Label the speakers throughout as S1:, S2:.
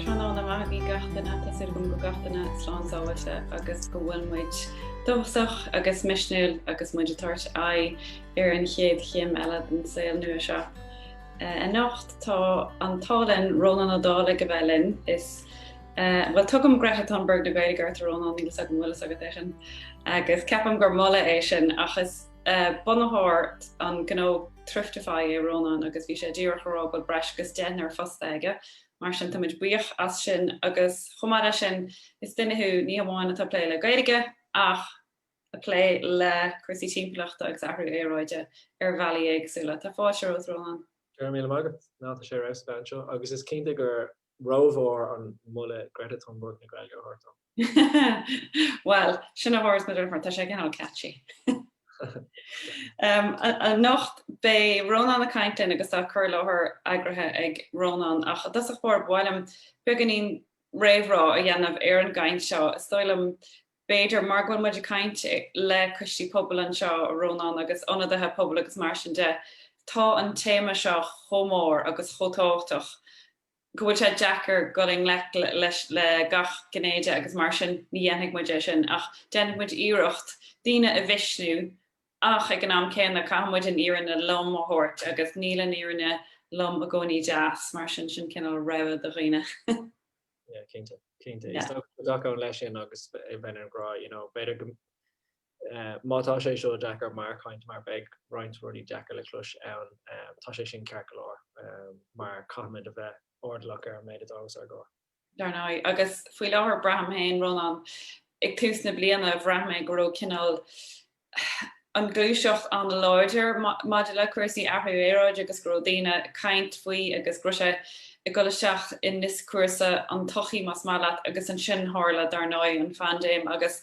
S1: Tráthnóna maith agaibh gach duine. Tá súil agam go bhfuil gach duine slán sábháilte agus go bhfuil muid dóchasach agus misniúil agus muid ag tabhairt aghaidh ar an chéad chéim eile den saol nua seo. Anocht tá an t-ádh linn Rónán Ó Dálaigh a bheith linn. Is bhuel tugaim Greta Thunberg na Gaeilge ort a Rónán, níl 's agam bhfuil 's agat é sin agus ceapaim gur moladh é sin ach is. bunaitheoir an gnó Thriftify é Rónán agus bhí sé díreach ag rá go bhfuil breis agus deichniúr fostaithe aige, mar sin táimid buíoch as sin agus chomh maith leis sin is duine thú ní hamháin atá ag plé le Gaeilge ach ag plé le cúrsaí timpeallachta agus athrú aeráide ar bhealaí éagsúla. Tá fáilte romhat a Rónáin. Go raibh míle maith agat. Ná tá sé ar fheabhas a bheith anseo agus is cinnte gur rómhór an moladh Greta Thunburg na Gaeilge a thabhairt dom. Bhuel, sin a thabharfas muid ort, tá sé cineál catchy. Anocht beidh Rónán ag caint linn agus tá cur i láthair eagraithe ag Rónán ach i dtosach báire ba mhaith liom beagáinín réamhrá a dhéanamh ar an gcaint seo. Is dóigh liom b'fhéidir mar go bhfuil muid ag caint le coistí pobail anseo, Rónán, agus ionadaithe pobail agus mar sin de, tá an téama seo chomh mór agus chomh tábhachtach go bhfuil sé deacair dul i ngleic leis le gach gné de agus mar sin ní dhéanfaidh muid é sin ach déanfaidh muid iarracht daoine a mhisniú ach ag an am céanna caithfidh muid an fhírinne lom a thabhairt agus níl an fhírinne lom i gcónaí deas mar sin sin cineál rabhadh do dhaoine. Yeah cinnte cinnte is dócha go dtacóinn leis sin agus a bheinn ag rá you know b'fhéidir go má tá sé seo deacair mar chaint mar beidh roinnt rudaí deacair le clois ann tá sé sin ceart go leor mar caithfimid a bheith airdeallach ar an méid atá os ár gcomhair. Dar ndóigh. Agus faoi láthair braithim féin Ronán ag tús na bliana bhraith mé go raibh cineál an ghluaiseacht an-láidir maidir le cúrsaí athrú aeráide agus go raibh daoine ag caint faoi agus go raibh sé ag dul isteach i ndioscúrsa an tsochaí más maith leat agus ansin tharla dar ndóigh an phaindéim agus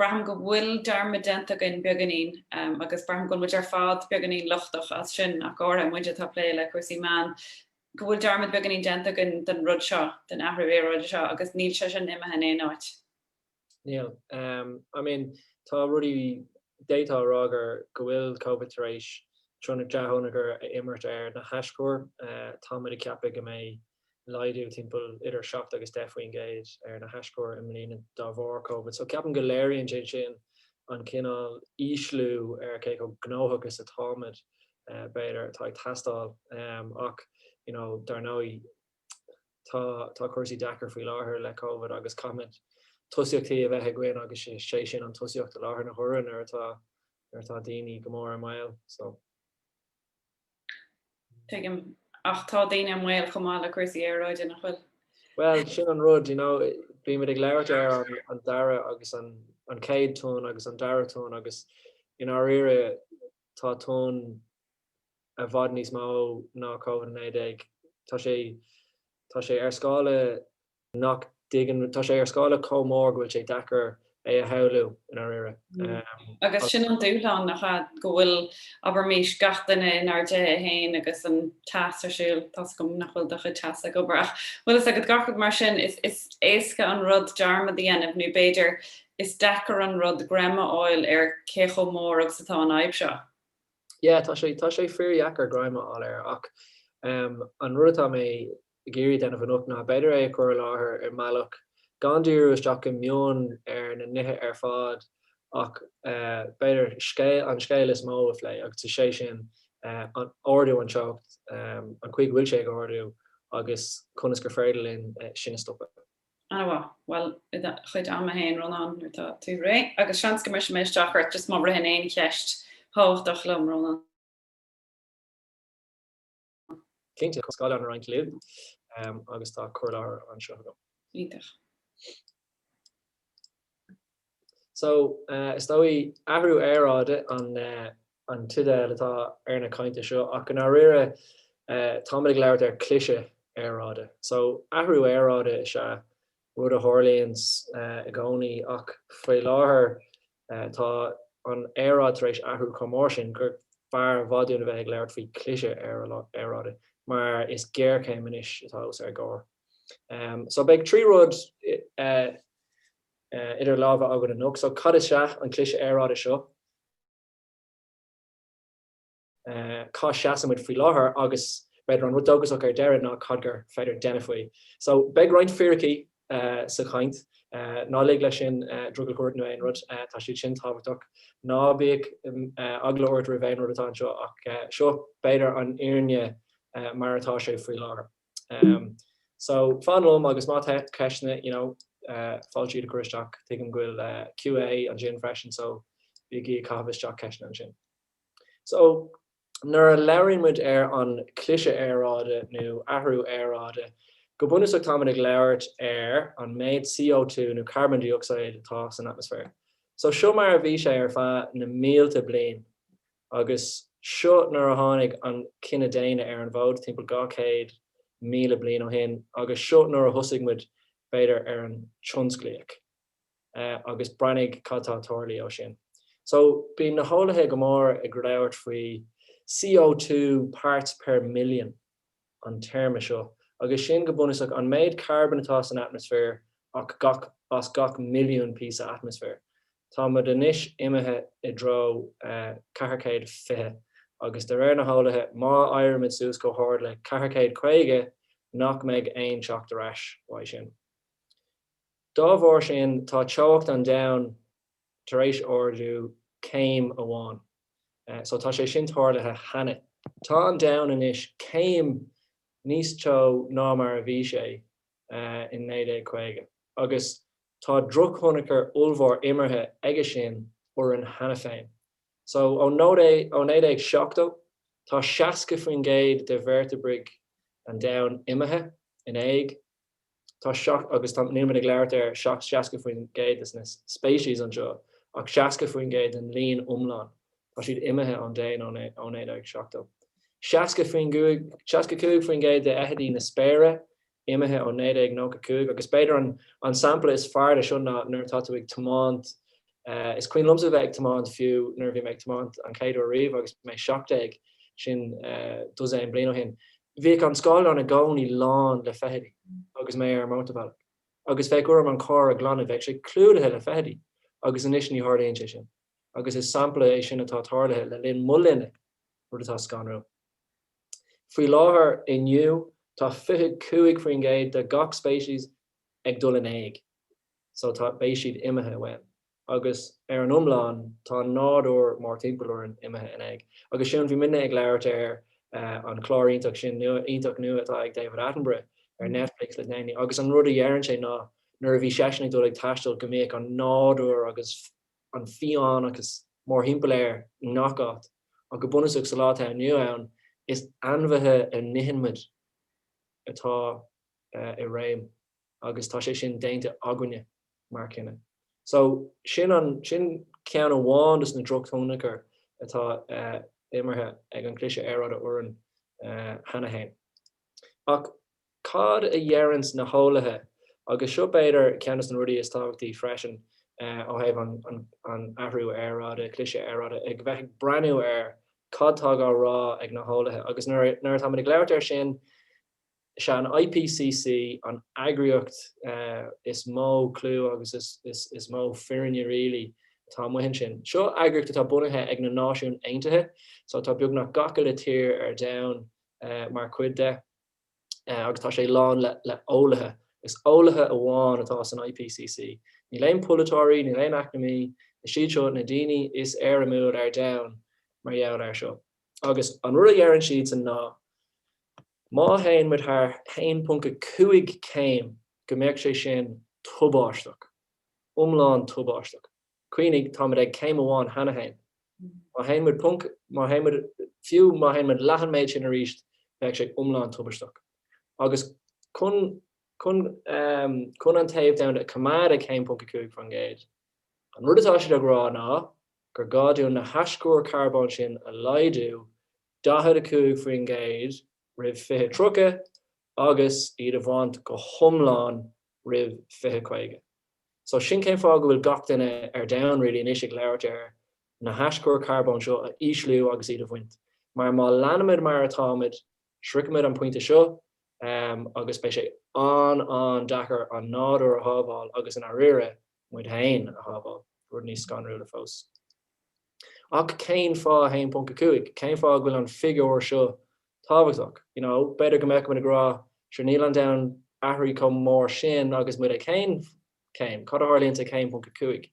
S1: braithim go bhfuil dearmad déanta againn beagáinín agus braithim go bhfuil muid ar fad beagáinín lochtach as sin ach go háirithe muid atá ag plé le cúrsaí meán go bhfuil dearmad beagáinín déanta againn den rud seo, den athrú aeráide seo agus níl sé sin imithe in aon áit. Níl. I mean tá rudaí, d'fhéadfá a rá gur, go bhfuil Covid tar éis tionchar dea-thionchar a imirt ar na haischuir. Táimid ag ceapadh go mbeidh laghdú timpeall idir seacht agus deich faoin gcéad ar na haischuir i mbliana de bharr Covid. So ceapaim go léiríonn sé sin an cineál ísliú ar cé chomh gnóthach is atáimid, b'fhéidir, atá ag teastáil. Ach, you know, dar ndóigh, Tá cúrsaí deacair faoi láthair le Covid agus caithfimid tosaíochtaí a bheith againn agus is é sin an tosaíocht i láthair na huaire nuair atá nuair atá daoine go mór i mbaol so. Tuigim. Ach tá daoine i mbaol chomh maith le cúrsaí aeráide, nach bhfuil? Bhuel, sin an rud, you know, bímid ag labhairt ar an dara agus an chéad tonn agus an dara tonn agus i ndáiríre tá tonn, i bhfad níos mó ná Covid a naoi déag. Tá sé tá sé ar scála nach dtuig tá sé ar scála chomh mór go bhfuil sé deacair é a shamhlú i ndáiríre. Agus sin an dúshlán, nach ea? Go bhfuil, abraimis, gach duine inár dtithe féin agus an teas ar siúl, tá's agam nach bhfuil do chuid teasa ag obair ach bhfuil fhios agat, gach rud mar sin, is éasca an rud dearmad a dhéanamh nó b'fhéidir is deacair an rud greim a fháil ar cé chomh mór agus atá an fhadhb seo. yeah tá sé tá sé fíor dheacair greim a fháil air ach em an rud atá mé ag iarraidh a déanamh anocht ná b'fhéidir é a chur i láthair i mbealach gan díriú isteach go mion ar na nithe ar fad ach eh b'fhéidir an scéal is mó a phlé agus is é sin eh an ardú an teocht em an chaoi go bhfuil sé ag ardú agus conas gur féidir linn eh sin a stopadh. Ana mhaith. Bhuel, i do chuid ama féin, Rónán, nuair atá tú réidh, agus seans go mbrisfidh mé isteach ort just má ritheann aon cheist thábhachtach liom, Rónán. Cinnte, tá scáileán á roinnt, clib agus tá cur i láthair anseo agam. Iontach. So, is dóigh, athrú aeráide an teideal atá ar na cainte seo ach i ndáiríre táimid ag labhairt ar chliseadh aeráide. So, athrú aeráide is ea rud a tharlaíonns i gcónaí ach faoi láthair tá an aeráid tar éis athrú chomh mór sin gur fearr i bhfad dúinn a bheith ag labhairt faoi chliseadh aeráide mar is géarchéim anois atá os ár gcomhair. So, beidh trí rud. eh, idir lámha againn anocht so cad is ea an cliseadh aeráide seo? eh, cá seasann muid faoi láthair agus b'fhéidir an rud dóchasach ar deireadh ná cad gur féidir a dhéanamh faoi. So beidh roinnt fíricí eh, sa chaint, eh, ná lig leis sin eh, drogall a chur ort nó aon rud, eh, tá siad sin tábhachtach. Ná bíodh mm, eh, eagla ort roimh aon rud atá anseo ach eh, seo b'fhéidir an fhírinne eh, mar atá sé faoi láthair. Umm so fan liom agus má tá ceisteanna you know fáilte iad a chur isteach. Tuigim go bhfuil QA ansin freisin so bígí ag caitheamh isteach ceisteanna ansin. So nuair a labhraíonn muid ar an cliseadh aeráide nó athrú aeráide go bunúsach táimid ag labhairt ar an méid CO2 nó carbon dioxide atá san atmaisféar. So seo mar a bhí sé ar feadh na mílte bliain. Agus seo nuair a tháinig an cine daonna ar an bhfód, timpeall 200,000 bliain ó shin, agus seo nuair a thosaigh muid, b'fhéidir, ar an tionsclaíocht. Agus breathnaigh cad tá tarlaithe ó sin. So, bíonn na heolaithe go mór ag labhairt faoi CO2 parts per million. an téarma seo, agus sin, go bunúsach, an méid carbóin atá san atmaisféar ach gach, as gach milliún píosa atmaisféir. Tá muid anois imithe i dtreo 420, agus de réir na heolaithe, má éirímid suas chomh hard le 450, nach mbeidh aon teacht ar ais uaidh sin. Dá bharr sin, tá teocht an domhain tar éis ardú céim amháin. so tá sé sin tarlaithe cheana. Tá an domhan anois céim níos teo ná mar a bhí sé in 1950 agus tá drochthionchar ollmhór imeartha aige sin orainn cheana féin. So ó, ó 1970 tá 60% de veirteabraigh an domhain imithe in éag. Tá seacht, agus tá, níl mé ag labhairt ar 60% de na speicis anseo, ach 60% den líon iomlán, tá siad imithe ón domhan ó 1970. 65, 65% de fheithidí na spéire imithe ó 1995 agus b'fhéidir an sampla is fearr de seo ná nuair atá tú ag tiomáint Is cuimhin liomsa bheith ag tiomáint fiú nuair a bhí mé ag tiomáint an chéad uair riamh agus mé seacht déag, sin dosaen bliain ó shin. Bhíodh an scáileán i gcónaí lán le feithidí agus mé ar an mótarbhealach. Agus bheadh orm an carr a ghlanadh, bheadh sé clúdaithe le feithidí. Agus anois ní tharlaíonn sé sin. Agus is sampla é sin atá tarlaithe le linn mo linne, rud atá scanrúil. Faoi láthair, inniu, tá 25% de gach speicis ag dul in éag. so tá, beidh siad imithe uainn. Agus ar an iomlán tá an nádúr mórthimpeall orainn imithe in éag. Agus sin, bhí muidne ag labhairt ar eh an gclár iontach sin, iontach nua atá ag David Attenborough ar Netflix le déanaí agus an rud a dheireann sé ná nuair a bhí seisean ag dul ag taisteal go mbíodh an nádúr agus an fiáineachas mórthimpeall air i ngach áit ach go bunúsach sa lá atá inniu ann is ainmhithe a n-itheann muid atá eh i réim. agus tá sé sin déanta againne mar chine. So, sin an, sin ceann amháin dos na drochthionchair atá imeartha ag an Cliseadh Aeráide orainn cheana fhéin. Ach cad a dheireanns na heolaithe agus seo b'fhéidir ceann dos na rudaí is tábhachtaí freisin ó thaobh an Athrú Aeráide, Cliseadh Aeráide, a bheith ag breathnú ar cad tá dhá rá ag na heolaithe agus nuair atáimid ag labhairt ar sin, Is é an IPCC an eagraíocht is mó clú agus is mó fírinne really atá amuigh ansin. Seo eagraíocht atá bunaithe ag na Náisiúin Aontaithe so tá beagnach gach uile tír ar domhan mar chuid de agus tá sé lán le eolaithe. Is eolaithe amháin atá san IPCC. Níl aon pholaiteoirí, níl aon eacnamaí, is iad seo na daoine is éirimiúil ar domhan mar gheall ar seo. Agus an rud a deireann siadsan ná. Má théann muid thar 1.5 céim go mbeadh sé sin tubaisteach. Iomlán tubaisteach. Cuimhnigh, táimid ag céim amháin cheana féin. Má théann muid ponc, má théann muid, fiú má théann muid leath an méid sin arís bheadh sé iomlán tubaisteach. Agus chun, chun, chun an téamh domhanda a choimeád ag 1.5%, an rud atá siad ag rá ná gur gá dúinn na hastuithe carbóin sin a laghdú 45% roimh 2030 agus iad a bhaint go hiomlán roimh 2050. So sin cén fáth go bhfuil gach duine ar domhan really anois ag labhairt ar na hastuithe carbóin seo a ísliú agus iad a bhaint. Mar má leanaimid mar atáimid, sroichfimid an pointe seo agus beidh sé an-an-deacair an nádúr a shábháil agus i ndáiríre, muid féin a shábháil, rud níos scanrúla fós. Ach cén fáth 1.5? Cén fáth go bhfuil an figiúr seo tábhachtach? You know, b'fhéidir go mbeadh muid ag rá, sure níl an domhan athraithe chomh mór sin agus muid ag aon chéim? Cad a tharlaíonns ag 1.5?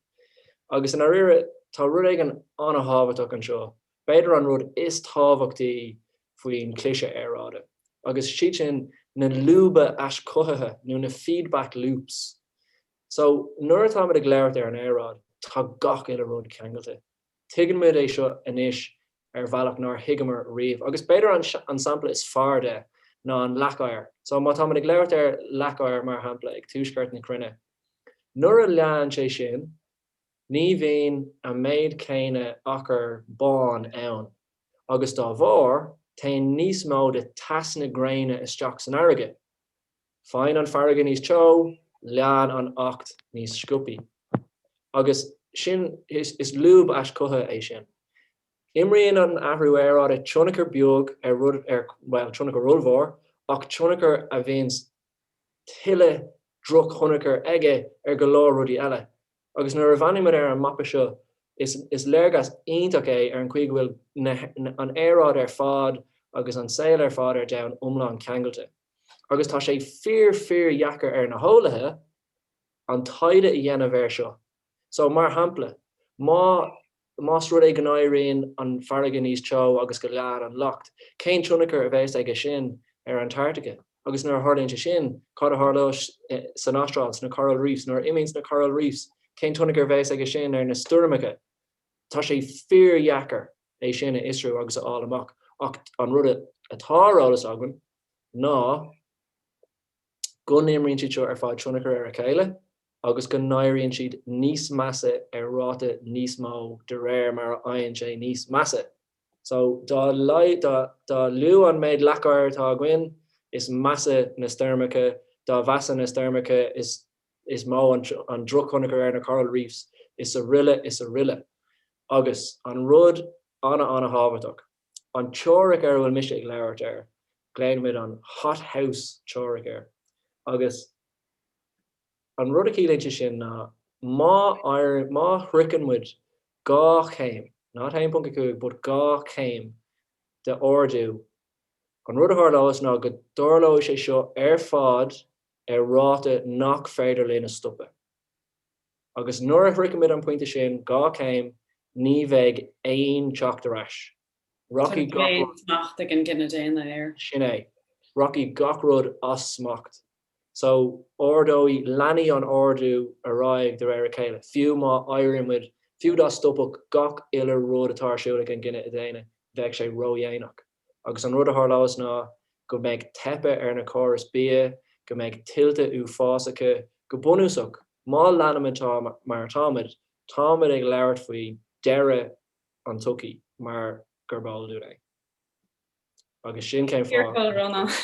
S1: Agus i ndáiríre, tá rud éigin an-thábhachtach anseo, b'fhéidir an rud is tábhachtaí faoin chliseadh aeráide, agus is iad sin na lúba aischothaithe nó na feedback loops. So, nuair atá muid ag labhairt ar an aeráid, tá gach uile rud ceangailte. Tuigeann muid é seo anois ar bhealach nár thuigeamar riamh. Agus b'fhéidir an sampla is fearr de ná an leac oighir. So, má tá muid ag labhairt ar leac oighir, mar shampla, ag tuaisceart na cruinne, nuair a leánn sé sin, ní bhíonn an méid céanna achar bán ann agus dá bharr, téann níos mó de teas na gréine isteach san fharraige. Faigheann an fharraige níos teo, leánn an leac níos sciobtha. Agus sin, is lúb aischothaithe é sin. Imríonn an t-athrú aeráide tionchar beag ar rud ar, bhuel, tionchar ollmhór, ach tionchar a bhíonns tuilleadh drochthionchar aige ar go leor rudaí eile. Agus nuair a bhreathnaímid ar an mapa seo, is léargas iontach é ar an chaoi go bhfuil an aeráid ar fad agus an saol ar fad ar domhan iomlán ceangailte. agus tá sé fíor fíor dheacair ar na heolaithe an taighde a dhéanamh air seo. So, mar shampla, má más rud é go n-éiríonn an farraige níos teo agus go leánn an leac, cén tionchar a bheas aige sin ar Antartaice? Agus nuair a tharlaíonn sé sin, cad a tharlóidh san Astráil, sna Coral Reefs? Nuair a imíonn na Coral Reefs, cén tionchar a bheas aige sin ar na stoirmeacha? Tá sé fíor dheacair. é sin a fhiosrú agus a fháil amach. Ach an rud atá ar eolas againn ná go n-imríonn siad seo ar fad tionchar ar a chéile agus go n-éiríonn siad níos measa ar ráta níos mó de réir mar a fhaigheann sé níos measa. So, dá dá lú an méid leac oighir atá againn is measa na stoirmeacha, dá mheasa na stoirmeacha is is mó an drochthionchar ar na coral reefs is aroile is aroile. Agus an rud ana-ana-thábhachtach, an teoiric ar a bhfuil mise ag labhairt air, glaofaimid an hothouse teoiric air. Agus an rud a chiallaíonn sé sin ná má éiríonn, má shroicheann muid dhá chéim, ní 1.5 but dhá chéim d'ardú, an rud a tharlós ná go dtarlóidh sé seo ar fad ar ráta nach féidir linn a stopadh. Agus nuair a shroichimid an pointe sin, dhá chéim, ní bheidh aon teacht ar ais. Rachaidh Tá gach aon rud. smacht ag an gcine daonna air. Sin é. Rachaidh gach rud as smacht. So, ardóidh, leanfaidh an ardú ar aghaidh de réir a chéile. Fiú má éirímid, fiú dá stopfadh gach uile rud atá ar siúl ag an gcine daonna, bheadh sé ró-dhéanach. agus an rud a tharlós ná go mbeidh teipeadh ar na córas bia, go mbeidh tuillte uafásacha, go bunúsach má leanaimid mar atáimid, táimid ag labhairt faoi deireadh an tsochaí mar gurb eol dúinn é. Agus sin cén fáth.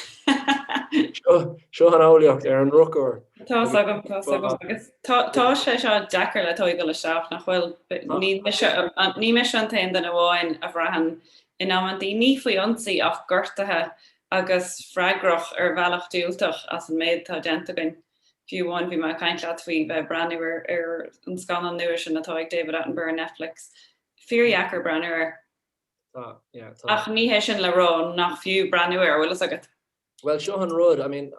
S1: Seo an eolaíocht ar an ndrochuair. Tá's agam, tá's agam agus tá sé seo deacair le tóigeáil isteach nach bhfuil? Ní mise an t-aon duine amháin a bhraitheann in amanntaí, ní faoi ionsaí ach gortaithe agus freagrach ar bhealach diúltach as an méid atá déanta againn. Fiú amháin bhí mé ag caint leat faoi bheith ag breathnú ar ar an scannán nua sin atá ag David Attenborough ar Netflix. Fíordheacair breathnú air. Tá, yeah, tá. Ach ní hé sin le rá nach fiú breathnú air, an bhfuil fhios agat? Bhuel, seo an rud, I mean,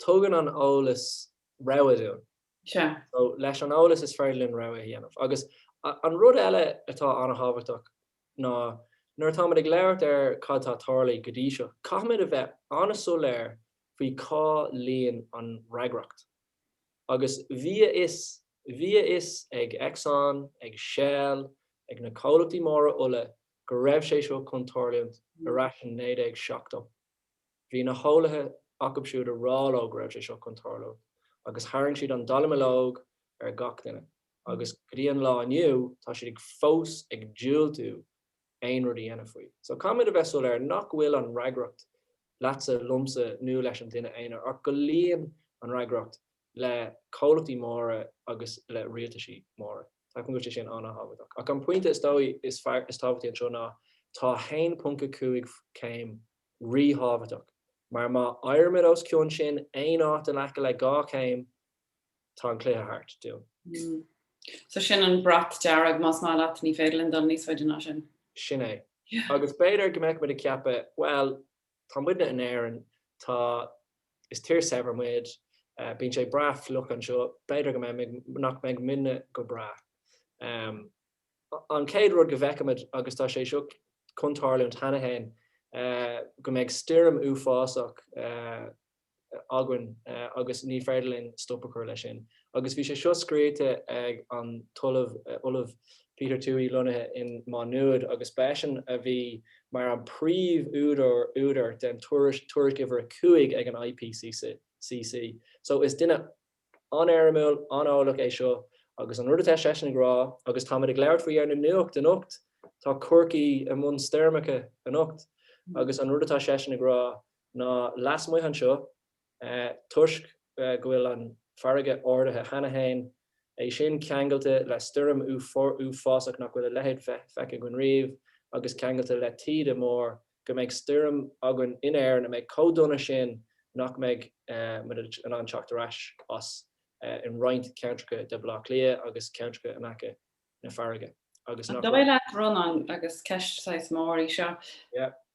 S1: tugann an eolas rogha dúinn. Sea. So, leis an eolas is féidir linn rogha a dhéanamh. Agus an rud eile atá an-thábhachtach nó nuair atáimid ag labhairt ar cad atá tarlaithe go dtí seo, caithfimid a bheith an-soiléir faoi cá luíonn an fhreagracht. Agus bhí a fhios, bhí a fhios ag Exxon, ag Shell, ag na comhlachtaí móra ola go raibh sé seo chun tarluint ar ais in 1970. Bhí na heolaithe acub siúd a rá leo go raibh sé seo chun tarluint agus tharraing siad an dallamullóg ar gach duine. agus go dtí an lá inniu tá siad ag fós ag diúltú aon rud a dhéanamh faoi. So caithfimid a bheith soiléir nach bhfuil an fhreagracht leatsa, liomsa nó leis an duine aonair ach go luíonn an fhreagracht le comhlachtaí móra agus le rialtaisí móra. Ceapaim go bhfuil sé sin an-thábhachtach. Ach an pointe is, is tábhachtaí anseo ná tá 1.5 céim rí-thábhachtach mar má éirimid os cionn sin aon áit in aice le 2 chéim, tá an cluiche thart. So sin an brat dearg, más maith leat, ní féidir linn dul níos faide ná sin. Sin é. Agus b'fhéidir go mbeadh muid ag ceapadh, bhuel, tá muidne in Éirinn, tá, is tír shaibhir muid, bíonn sé breá fliuch anseo, b'fhéidir go mbeidh, nach mbeidh muidne go breá. An chéad rud go bhfeicimid, agus tá sé seo chun tarlúint cheana féin, go mbeidh stoirm uafásach, againn agus ní féidir linn stop a chur leis sin. Agus bhí sé seo scríofa ag an tOllamh, Ollamh Peter Thorne lonnaithe in Maigh Nuad agus ba eisean a bhí mar an príomh údar údar den tuairisc uimhir a cúig ag an IPCC. So is duine an-éirimiúil, an-eolach é seo agus an rud atá seisean ag rá agus táimid ag labhairt faoi ar an nuacht anocht tá Corcaigh i mbun stoirmeacha anocht agus an rud atá seisean ag rá ná lasmuigh anseo, toisc go bhfuil an farraige ardaithe cheana féin, é sin ceangailte le stoirm uafásach nach bhfuil a leithéid feicthe againn riamh, agus ceangailte le taoide mór, go mbeidh stoirm againn in Éirinn a mbeidh chomh dona sin nach mbeidh muid in ann teacht ar ais as in roinnt ceantracha de B'l'Áth Cliath agus ceantracha in aice na farraige. Agus nach. An dóigh leat, Ronán, agus ceist saghas mór í seo,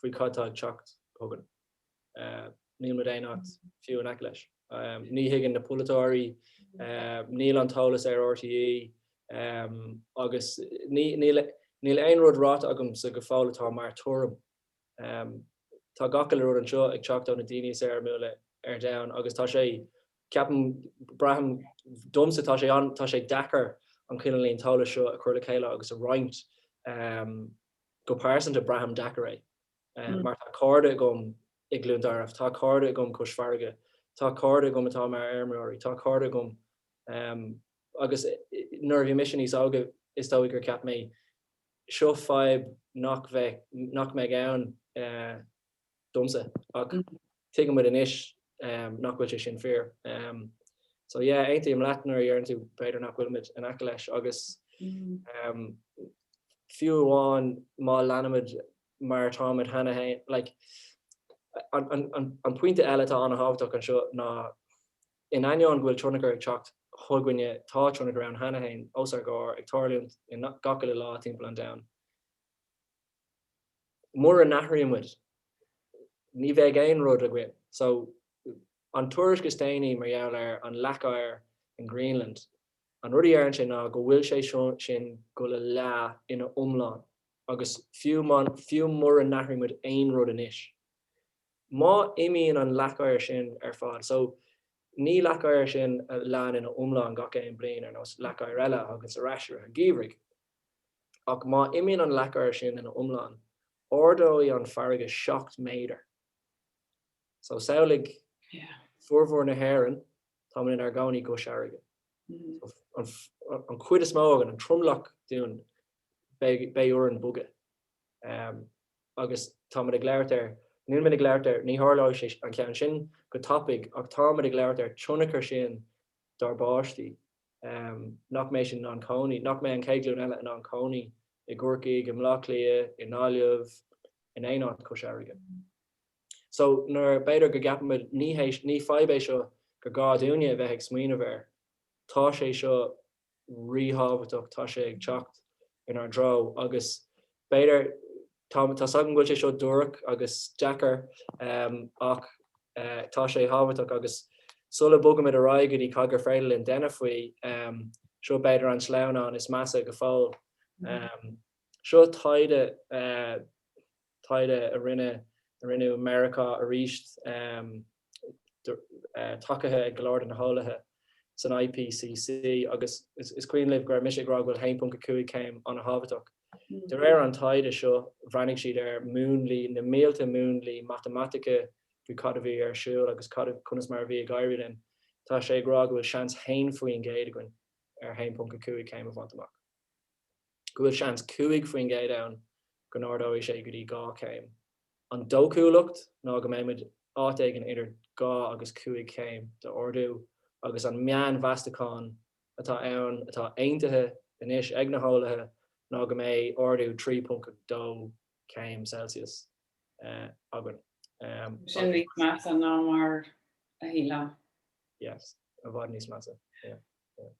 S1: faoi cad atá ag teacht chugainn. Níl muid aon áit fiú in aice leis. Ní thuigeann na polaiteoirí, níl an t-eolas ar RTÉ agus níl aon rud ráite agamsa go fóill atá mar tuairim. Tá gach uile rud anseo ag teacht ó na daoine is éirimiúla ar domhan agus tá sé, ceapaim, braithim, domsa tá sé deacair an cineál an t-eolas seo a chur le chéile agus a roinnt. Go pearsanta, braithim deacair é. Mar tá cairde agam i gCluain Tarbh, tá cairde agam cois farraige, tá cairde agam atá mar fheirmeoirí, tá cairde agam. Agus nuair a bhí mise níos óige is dóigh gur cheap mé, seo fadhb nach mbeidh, nach mbeidh ann. domsa. Ach tuigeann muid anois nach bhfuil sé sin fíor. So yeah, aontaím leat nuair a dheireann tú b'fhéidir nach bhfuil muid in aice leis agus fiú amháin má leanaimid mar atáimid cheana féin, like an pointe eile atá an-thábhachtach anseo ná in ainneoin go bhfuil tionchar ag teacht chugainne tá tionchar ann cheana féin os ár gcomhair ag tarlúint i ngach uile lá timpeall an domhain. Mura n-athraíonn muid, ní bheidh aon rud againn. So, an tuairisc is déanaí mar gheall ar an leac oighir in Greenland, an rud a dheireann sé ná go bhfuil sé sin go le leá ina iomlán agus fiú mura n-athraíonn muid aon rud anois, má imíonn an leac oighir sin ar fad, so, ní leac oighir sin a leánn ina iomlán gach aon bliain ar nós leac oighir eile a thaganns ar ais i rith an gheimhridh. Ach má imíonn an leac oighir sin ina iomlán, ardóidh an farraige seacht méadar. So, samhlaigh, formhór na hÉireann, táimid inár gcónaí cois farraige. So, an chuid is mó againn, an tromlach dínn, beidh orainn bogadh. Agus táimid ag labhairt ar, nílimid ag labhairt ar, ní tharlóidh an ceann sin go tapaidh, ach táimid ag labhairt ar tionchar sin dár bpáistí. nach mbeidh siad in ann cónaí, nach mbeidh an chéad ghlúin eile in ann cónaí i gCorcaigh, i mBleá Cliath, i nGaillimh, in aon áit cois farraige. So nuair, b'fhéidir go gceapaimid ní fadhb é seo gur gá dúinne a bheith ag smaoineamh air, tá sé seo ríthábhachtach, tá sé ag teacht in ár dtreo agus b'fhéidir, tá's agam go bhfuil sé seo dúrach agus deacair ach tá sé tábhachtach agus sula bogaimid ar aghaidh go dtí cad gur féidir linn déanamh faoi, seo b'fhéidir an sleamhnán is measa go fóill. Seo taighde. taighde a rinneadh i Meiriceá aríst, tacaithe ag go leor de na heolaithe san IPCC, agus is cuimhin libh go raibh mise ag rá go bhfuil 1.5 céim an-thábhachtach. De réir an taighde seo, bhreathnaigh siad ar múnlaí, na mílte múnlaí matamaitice faoi cad a bhí ar siúl agus conas mar a bhí ag éirí linn. Tá sé ag rá go bhfuil seans haon faoin gcéad againn ar 1.5 céim a bhaint amach. go bhfuil seans 5 faoin gcéad ann go n-ardóidh sé go dtí dhá chéim. An dóchúlacht ná go mbeimid áit éigin idir dhá agus cúig chéim d'ardú agus an meánmheastachán atá ann atá aontaithe anois ag na heolaithe ná go mbeidh ardú 3.2 céim Celsius againn. Sin níos measa ná mar a shílfeá. Yes. I bhfad níos measa. Yeah. Yeah.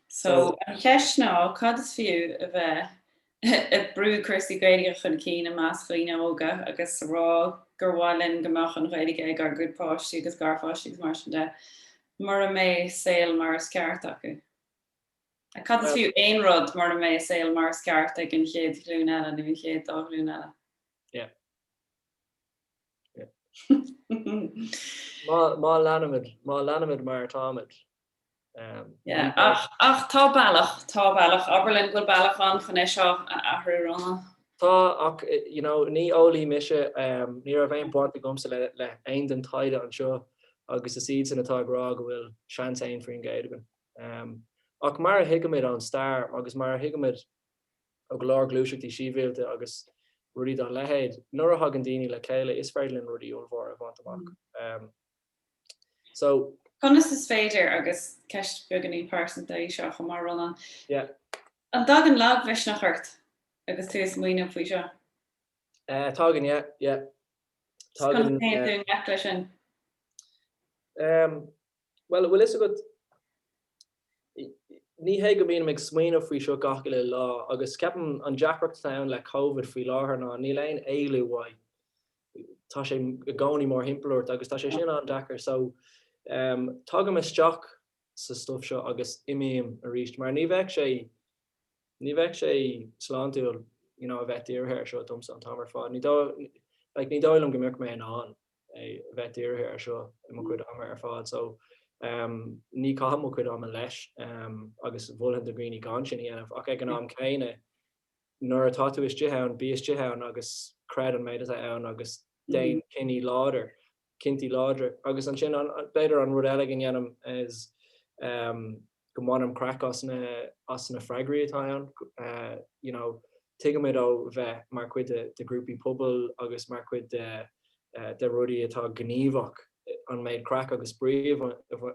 S1: So, an cheist ná, cad is fiú a bheith ag brú cúrsaí Gaeilge chun cinn i measc daoine óga agus a rá gur mhaith linn go mbeadh an Ghaeilge ag ár gcuid páistí agus garpháistí agus mar sin de mura mbeadh saol mar is ceart acu? Ach cad is fiú aon rud mura mbeadh saol mar is ceart ag an chéad ghlúin eile nó an chéad dá ghlúin eile? Yeah. Má leanaimid mar atáimid. Ach tá bealach, tá bealach. Abair linn go bhfuil bealach ann chun é seo a athrú, Rónán. Tá, ach you know ní eolaí mise, ní raibh aon baint agamsa le haon den taighde anseo agus is iadsan atá ag rá go bhfuil seans aon faoin gcéad againn. Ach mar a thuigimid ón stair agus mar a thuigimid ó go leor gluaiseachtaí síbhialta agus rudaí dá leithéid, nuair a thagann daoine le chéile is féidir linn rudaí ollmhóra a bhaint amach. So. Conas is féidir, agus ceist beagainín pearsanta í seo chomh maith Rónán, an dtagann lagmhisneach ort agus tú ag smaoineamh faoi seo? Eh, tagann, yeah, yeah. Tagann. Conas a théann tú i ngleic leis sin? Em, bhuel, bhfuil 'fhios agat, ní hé go mbím ag smaoineamh faoi seo gach uile lá agus ceapaim an deacracht atá ann le Covid faoi láthair ná níl aon éalú uaidh. tá sé i gcónaí mórthimpeall ort agus tá sé sin an-deacair so em tagaim isteach sa stuif seo agus imím aríst mar ní bheadh sé, ní bheadh sé sláintiúil you know a bheith dírithe ar seo domsa an t-am ar fad, ní dóigh like ní dóigh liom go mbeadh mé in ann é a bheith dírithe ar seo i mo chuid ama ar fad so em ní chaithim mo chuid ama leis em agus molaim do dhaoine gan sin a dhéanamh ach ag an am céanna Nuair atá tú istigh ann, bí istigh ann agus creid an méid atá ann agus déan cinní láidir, cinntí láidre. Agus ansin an, b'fhéidir an rud eile go ndéanaim is go mbainim craic as na, as na freagraí atá ann. You know, tuigimid ó bheith mar chuid de ghrúpaí pobail agus mar chuid de de rudaí atá gníomhach, an méid craic agus spraoi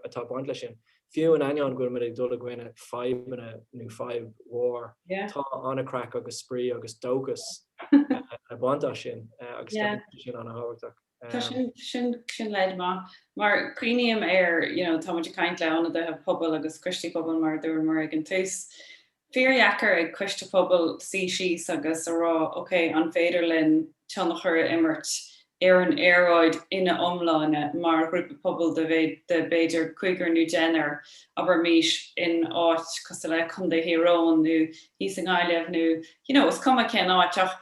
S1: atá ag baint leis sin. Fiú in ainneoin go bhfuilimid ag dul i gcoinne fadhbanna nó fadhb mhór, tá an-chraic agus spraoi agus dóchas le baint as sin agus tá sin an-thábhachtach. Tá sin, sin, sin leid maith. Mar cuimhním ar, you know, táimid ag caint le ionadaithe pobail agus coistí pobail mar a dúramar ag an tús, fíordheacair ag Coiste Pobail suí síos agus a rá ok, an féidir linn tionchar a imirt ar an aeráid ina iomláine mar ghrúpa pobail de b'fhéidir cúigear nó deichniúr, abraimís, in áit cosúil le Contae Thír Eoghan nó thíos i nGaillimh nó you know is cuma cén áit ach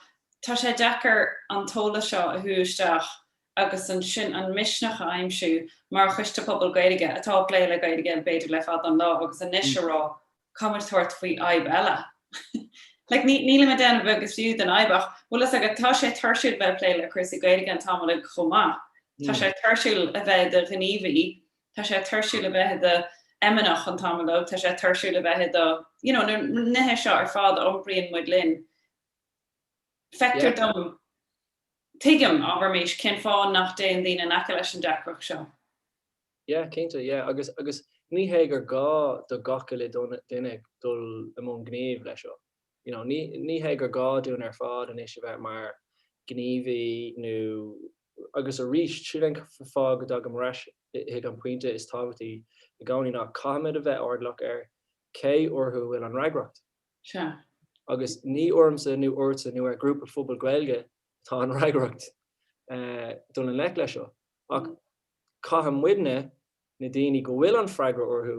S1: tá sé deacair an t-eolas seo a shú isteach agus ansin an misneach a aimsiú mar Choiste Pobail Gaeilge atá ag plé le Gaeilge b'fhéidir le fada an lá agus anois a rá Tá muid ag tabhairt faoi fhadhb eile? Like ní, nílim ag déanamh a beag is fiú den fhadhb ach bhfuil fhios agat tá sé tuirsiúil bheith ag plé le cúrsaí Gaeilge an t-am uilig chomh maith. Tá sé tuirsiúil a bheith i do ghníomhaí, tá sé tuirsiúil a bheith i do fheimineach an t-am uilig, tá sé tuirsiúil a bheith i do, you know, na nithe seo ar fad a iompraíonn muid linn. Feictear dom, tuigim, abraimis, cén fáth nach dtéann daoine in aice leis an deacracht seo. Yeah, cinnte, yeah, agus, agus ní hé gur gá do gach uile dhuine, duine dul i mbun gnímh leis seo, you know, ní, ní hé gur gá dúinn ar fad anois a bheith mar gníomhaí nó, agus arís, sin é an fáth go dtagaim ar ais chuig an pointe is tábhachtaí i gcónaí ná caithfidh muid a bheith airdeallach ar cé orthu a bhfuil an fhreagracht. Sea. Agus ní ormsa nó ortsa nó ar ghrúpa phobail Gaeilge atá an fhreagracht dul i ngleic leis seo ach, Caithfidh muidne, na daoine go bhfuil an freagra orthu,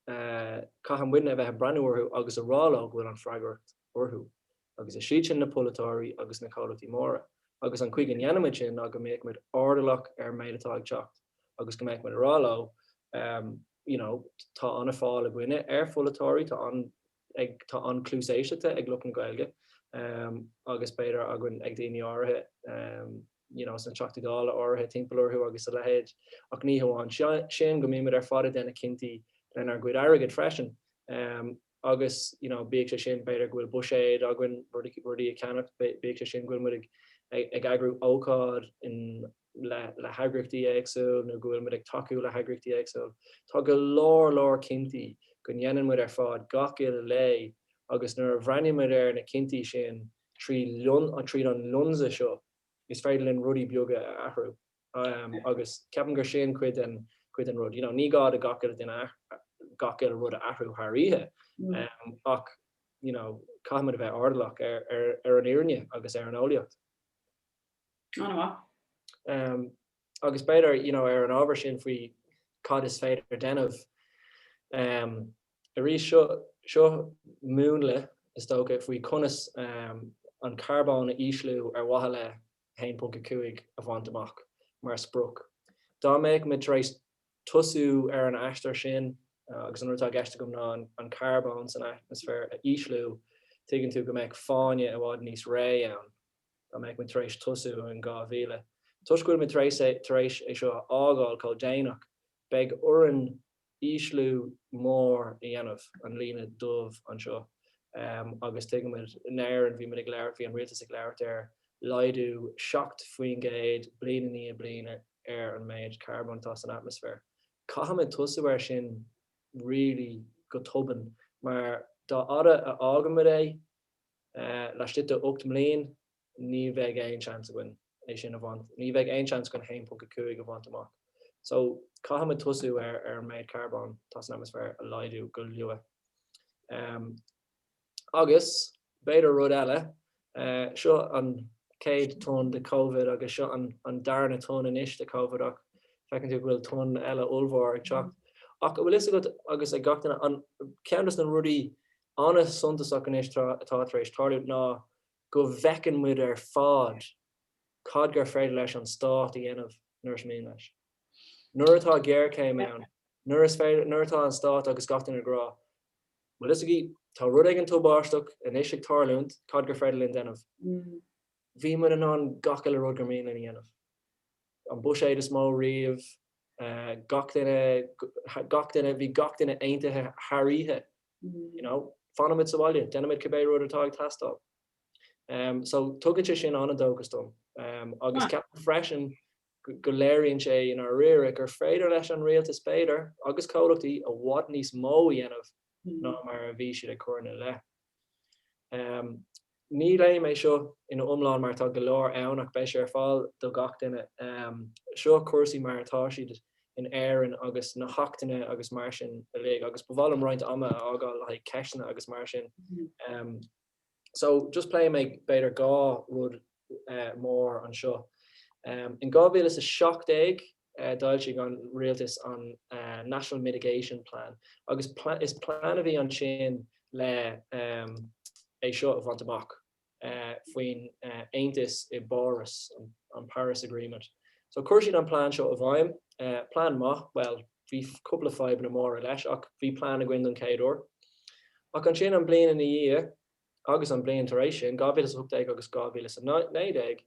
S1: caithfidh muidne a bheith ag breathnú orthu agus a rá leo go bhfuil an freagracht orthu. Agus is iad sin na polaiteoirí agus na comhlachtaí móra. Agus an chaoi go ndéanann muid sin ná go mbeadh muid airdeallach ar an méid atá ag teacht agus go mbeadh muid ag rá leo you know tá an-fháil againne ar pholaiteoirí, tá an, Tá an-chluas éisteachta ag lucht na Gaeilge agus b'fhéidir againn, ag daoine áirithe you know sna Teachtaí Dála áirithe timpeall orthu agus a leithéid. Ach ní hamháin sin, go mbeidh muid ar fad ag déanamh cinntí lenár gcuid airgid freisin agus you know bíodh sé sin b'fhéidir go bhfuil buiséad againn rudaí a cheannach, bíodh sé sin go bhfuil muid ag eagrú ócáid in le heagraíochtaí éagsúil nó go bhfuil muid ag tacú le heagraíochtaí éagsúil. Tá go leor leor cinntí go ndéanann muid ar fad gach uile lá agus nuair a bhreathnaíonn muid ar na cinntí sin trí tríd an lionsa seo is féidir linn rudaí beaga a athrú agus ceapaim gur sin cuid den cuid den rud. You know ní gá do gach uile duine gach uile rud a athrú thar oíche ach you know caithfidh muid a bheith airdeallach ar ar an fhírinne agus ar an eolaíocht. Ana mhaith. Em, agus b'fhéidir, you know, ar an ábhar sin faoi cad is féidir déanamh, em, arís seo, seo múnla, is dócha, faoi conas, em, an carbón a ísliú ar mhaithe le 1.5 a bhaint amach mar sprioc. Dá mbeadh muid tar éis tosú ar an aistear sin, agus an rud atá i gceist agam ná an carbón san atmaisféar a ísliú, tuigeann tú go mbeadh fána i bhfad níos réidh ann. dá mbeadh muid tar éis tosú in 2000. Toisc go bhfuil muid tar éis é seo a fhágáil chomh déanach, beidh orainn ísliú mór a dhéanamh, an líne dhubh anseo, agus tuigimid, in Éirinn, bhí muid ag labhairt, bhí an Rialtas ag labhairt ar laghdú 7 faoin gcéad bliain i ndiaidh bliana ar an méid carbóin atá san atmaisféar. Caithfimid tosú air sin really go tobann mar dá fhada a fhágaimid é, laistigh de ocht mbliain ní bheidh aon seans againn é sin a bhaint, ní bheidh aon seans againn 1.5 a bhaint amach. So caithfimid tosú ar an méid carbóin atá san atmaisféar a laghdú go luath. Agus b'fhéidir rud eile, seo an chéad tonn de Covid agus seo an darna tonn anois de Covid ach feiceann tú go bhfuil tonn eile ollmhór ag teacht. Ach a' bhfuil 'fhios agat agus ag gach duine, an, ceann dos na rudaí an-suntasach anois atá tar éis tarlúint ná go bhfeiceann muid ar fad cad gur féidir leis an Stát a dhéanamh nuair is mian leis. Nuair atá géarchéim ann, nuair atá an Stát agus gach duine ag rá, an bhfuil 'fhios agaibh, tá rud éigin tubáisteach anois ag tarlúint, cad gur féidir linn déanamh? Bhí muid in ann gach uile rud gur mian linn a dhéanamh. An buiséad is mó riamh, gach duine, gach duine, bhí gach duine aontaithe thar oíche you know, fanaimid sa bhaile, déanaimid cibé rud atá ag teastáil. So tugann sé sin an-dóchas dom. Agus ceapaim freisin go léiríonn sé i ndáiríre gur féidir leis an Rialtas b'fhéidir, agus comhlachtaí, i bhfad níos mó a dhéanamh ná mar a bhí siad ag cur ina leith. Ní léifidh mé seo ina iomlán mar tá go leor ann ach beidh sé ar fáil do gach duine. Seo cúrsaí mar atá siad in Éirinn agus na hachtanna agus mar sin uilig agus ba mhaith liom roinnt ama a fhágáil le haghaidh ceisteanna agus mar sin. So just pléifidh mé b'fhéidir dhá rud mór anseo. In 2017, d'fhoilsigh an Rialtas an National Mitigation Plan agus is plean a bhí ansin le é seo a bhaint amach faoin Aontas i bPáras, an Paris Agreement. So chuir siad an plean seo i bhfeidhm. Plean maith, bhuel bhí cúpla fadhbanna móra leis ach bhí plean againn don chéad uair. Ach ansin an bhliain ina dhiaidh agus an bhliain tar éis sin, 2018 agus 2019,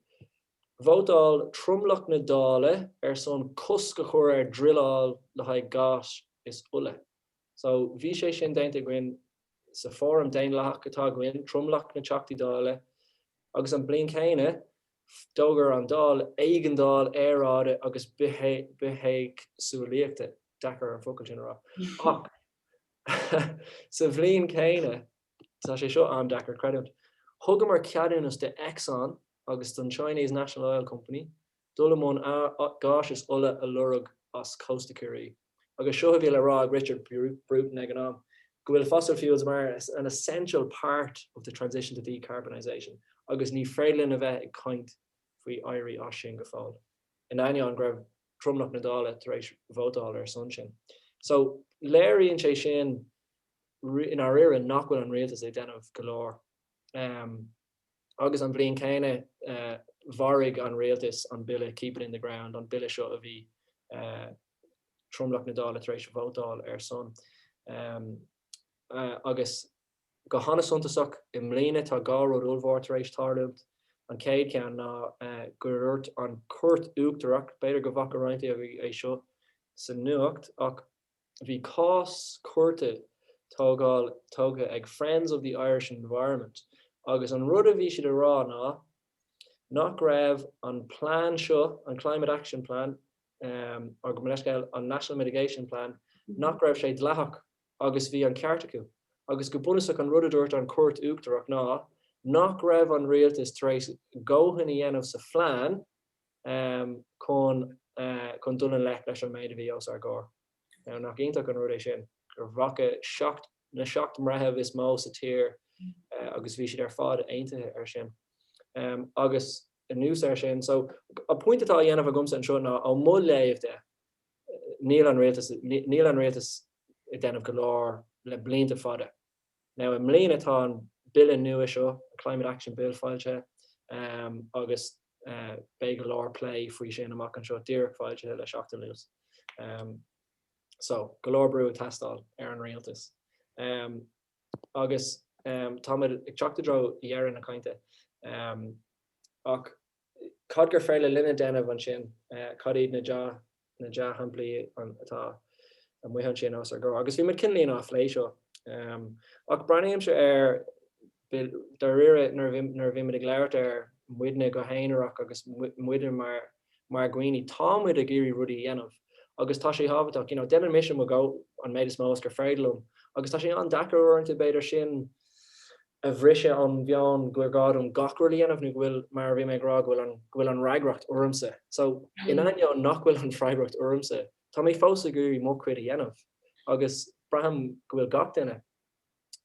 S1: Vótáil tromlach na Dála ar son cosc a chur ar druileáil le haghaidh gáis is ola. So, bhí sé sin déanta againn sa fhóram daonlathach atá againn, tromlach na Teachtaí Dála, agus an bhliain chéanna d'fhógair an Dáil éigeandáil aeráide agus bithéagsúlaíochta, deacair an focal sin a rá, ach sa bhliain chéanna. Tá sé seo an-deacair a chreidiúint. Thugamar ceadúnas do Exxon agus don Chinese National Oil Company dul i mbun gáis is ola a lorg as cósta Chiarraí. Agus seo a bhí le rá ag Richard Bruton ag an am, go bhfuil fossil fuels mar an essential part of the transition to decarbonisation agus ní féidir linn a bheith ag caint faoi éirí as sin go fóill, in ainneoin go raibh tromlach na Dála tar éis vótáil ar son sin. So, léiríonn sé sin. i ndáiríre nach bhfuil an Rialtas ag déanamh go leor. Agus an bhliain céanna mharaigh an Rialtas an Bille Keep it in the Ground, an Bille seo a bhí tromlach na Dála tar éis vótáil ar a shon. Agus go hana-suntasach i mbliana tá dhá rud ollmhór tar éis tarlúint. An chéad cheann ná go ndúirt an Chúirt Uachtarach, b'fhéidir go bhfaca roinnt agaibh é seo sa nuacht, ach Bhí cás cúirte tógtha ag Friends of the Irish Environment agus an rud a bhí siad a rá ná nach raibh an plean seo, an Climate Action Plan, or gabh mo leithscéal, an National Mitigation Plan, nach raibh sé dleathach agus bhí an ceart acu. Agus go bunúsach an rud a dúirt an Chúirt Uachtarach ná nach raibh an Rialtas tar éis a ndóthain a dhéanamh sa phlean, chun dul i ngleic leis an méid a bhí os ár gcomhair. Now nach iontach an rud é sin, gur bhfaca seacht, na seacht mbreitheamh is mó sa tír agus bhí siad ar fad aontaithe ar sin. Agus anuas ar sin, so an pointe atá á dhéanamh agamsa anseo ná ó mo léamh de, níl an Rialtas, níl an Rialtas ag déanamh go leor le blianta fada. Now i mbliana tá an Bille nua seo, an Climate Action Bill, foilsithe agus beidh go leor plé faoi sin amach anseo, díreach foilsithe le seachtain anuas. So go leor brú ag teastáil ar an Rialtas. Agus táimid ag teacht i dtreo dheireadh na cainte ach. cad gur féidir linne déanamh ansin, cad iad na dea-shamplaí atá amuigh ansin os ár gcomhair. Agus bhí muid cineálín ag plé seo. Ach breathnaímse air, dáiríre, nuair a bhímid ag labhairt ar muidne go haonarach agus muide mar dhaoine, tá muid ag iarraidh rudaí a dhéanamh agus tá sé tábhachtach. You know, déanann mise mo an méid is mó is gur féidir liom agus tá sé an-deacair uaireanta, b'fhéidir, sin, a bhriseadh ón mheon gur gá dom gach rud a dhéanamh nó go bhfuil, mar a bhí mé ag rá, go bhfuil an, go bhfuil an fhreagracht ormsa. So, in ainneoin nach bhfuil an fhreagracht ormsa, tá mé fós ag iarraidh mo chuid a dhéanamh agus braithim go bhfuil gach duine.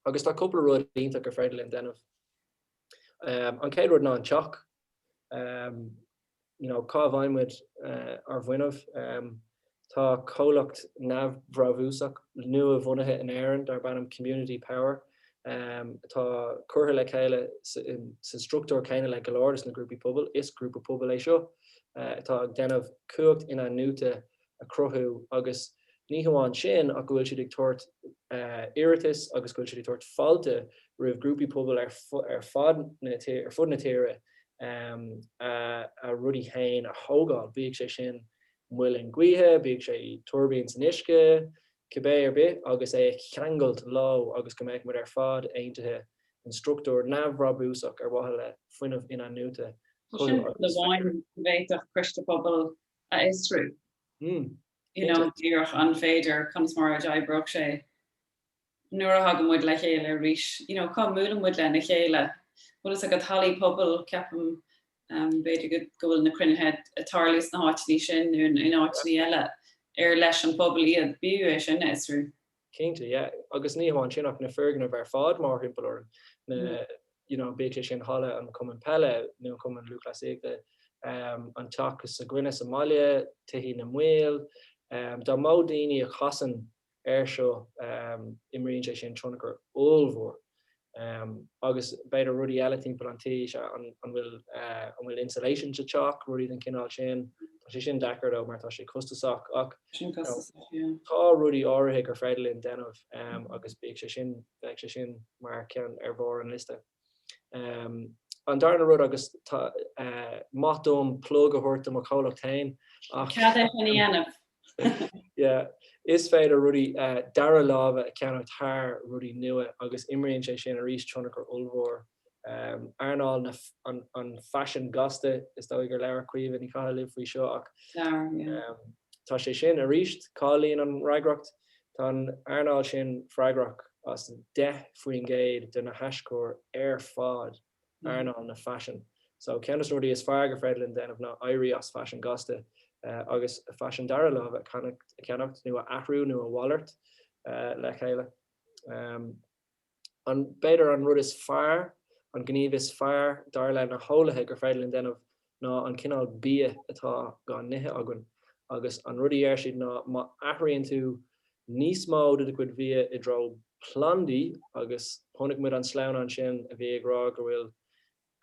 S1: Agus tá cúpla rud iontach gur féidir linn déanamh. An chéad rud ná an Teach. you know, cá bhfaighidh muid ár bhfuinneamh? Tá comhlacht neamhbhrabúsach nua-bhunaithe in Éirinn darb ainm Community Power atá curtha le chéile sa struchtúr céanna le go leor de na grúpaí pobail. Is grúpa pobail é seo atá ag déanamh cumhacht inathnuaite a chruthú agus ní hamháin sin ach go bhfuil siad ag tabhairt iarratas agus go bhfuil siad ag tabhairt fáilte roimh ghrúpaí pobail ar fud na tíre a rudaí féin a thógáil, bíodh sé sin muileann gaoithe, bíodh sé tuirbín san uisce, cibé ar bith agus é a cheangailt leo agus go mbeadh muid ar fad aontaithe in struchtúr neamhbhrabúsach ar mhaithe le fuinneamh inathnuaite a chothú agus a fheabhsú. Sin rud amháin a bhféadfadh Coiste Pobail a fhiosrú. You know, díreach an féidir, conas mar a d'oibreodh sé nuair a thagann muid le chéile arís. You know, cá mbualann muid lena chéile. Bhfuil fhios agat, hallaí pobail, ceapaim, b'fhéidir go bhfuil na cruinnithe ag tarlú sna háiteanna sin nó in áiteanna eile, ar leis an bpobal iad. B'fhiú é sin a fhiosrú. Cinnte, yeah. Agus ní hamháin sin ach na foirgnimh ar fad mórthimpeall orainn, na, you know, bíodh sé sin halla an chumann peile nó an chumann lúthchleasaíochta, an teach s'againne sa mbaile, tithe na mball, dá mba daoine a chasann ar seo imríonn sé sin tionchar ollmhór Ehm agus b'fhéidir rudaí eile timpeall an tí, sea an an bhfuil eh an bhfuil insulation sa teach, rudaí den chineál sin. Tá sé sin deacair though mar tá sé costasach ach Sin you know costasach, yeah. tá rudaí áirithe gur féidir linn déanamh ehm agus bíodh sé sin bheadh sé sin mar cheann ar bharr an liosta. Ehm an darna rud agus tá mhaith liom plug a thabhairt do mo chomhlacht fhéin ach Cad é sin a dhéanamh? Yeah. Is féidir rudaí dara láimhe a cheannach thar rudaí nua agus imríonn sé sin arís tionchar ollmhór. Earnáil na an faisin gasta, is dóigh gur labhair Caoimhe Ní Chathail libh faoi seo ach tá sé sin arís. Cáilíonn an fhreagracht, tá an earnáil sin freagrach as 10% de na haischuir ar fad. earnáil na faisin. So ceann des na rudaí is fearr gur féidir linn déanamh ná éirí as faisean gasta agus faisean dara láimhe a cheannacht nó a athrú nó a mhalairt le chéile. An b'fhéidir an rud is fearr, an gníomh is fearr dar le na heolaithe gur féidir linn déanamh ná an cineál bia atá dhá n-ithe againn agus an rud a deir siad ná má athraíonn tú níos mó de do chuid bhia i dtreo plandaí agus chonaic muid an sleamhnán sin a bhí ag rá go bhfuil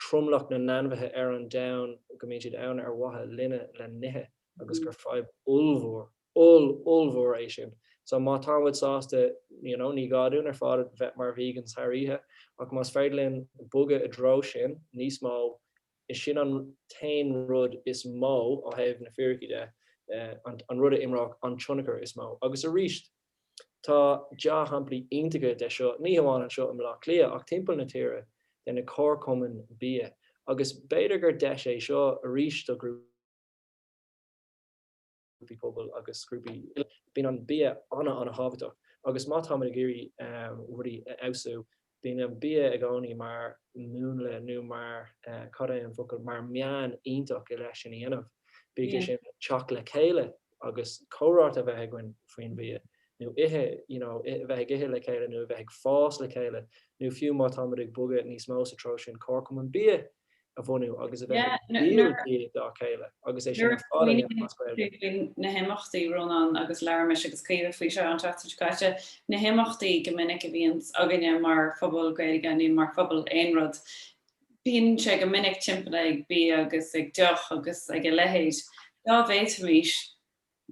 S1: tromlach na n-ainmhithe ar an domhan go mbíonn siad ann ar mhaithe linne le n-ithe agus gur fadhb ollmhór, oll, ollmhór é sin. So má tá muid sásta you know ní gá dúinn ar fad a bheith mar vegans thar oíche ach más féidir linn bogadh i dtreo sin níos mó, Is é sin an t-aon rud is mó, ó thaobh na fíricí de, an rud a imreoidh an tionchar is mó. Agus arís, tá deá-shamplaí iontacha de seo, ní hamháin anseo i mBleá Cliath, ach timpeall na tíre, de na comharchumainn bia. Agus b'fhéidir gur deis é seo arís do ghrúpaí. grúpaí pobail agus grúpaí eile. Bíonn an bia an-an-thábhachtach agus má táimid ag iarraidh rudaí a fheabhsú, bíonn an bia i gcónaí mar múnla nó mar, cad é an focal, mar meán iontach le é sin a dhéanamh. Bíodh sé sin teacht le chéile agus comhráite a bheith againn faoin bhia nó ithe, you know, a bheith ag ithe le chéile nó a bheith ag fás le chéile nó fiú má táimid ag bogadh níos mó sa treo sin, comharchumann bia a bhunú agus a bheith ag díol dá chéile agus é sin ar fad a dhéanamh as Gaeilge. na himeachtaí, Rónán agus labhair mise agus Caoimhe faoi seo an tseachtain seo caite, na himeachtaí go minic a bhíonns againne mar phobal Gaeilge nó mar phobal aon rud, bíonn sé go minic timpeallaithe ag bia agus ag deoch agus ag a leithéid. Dá bhféadfaimís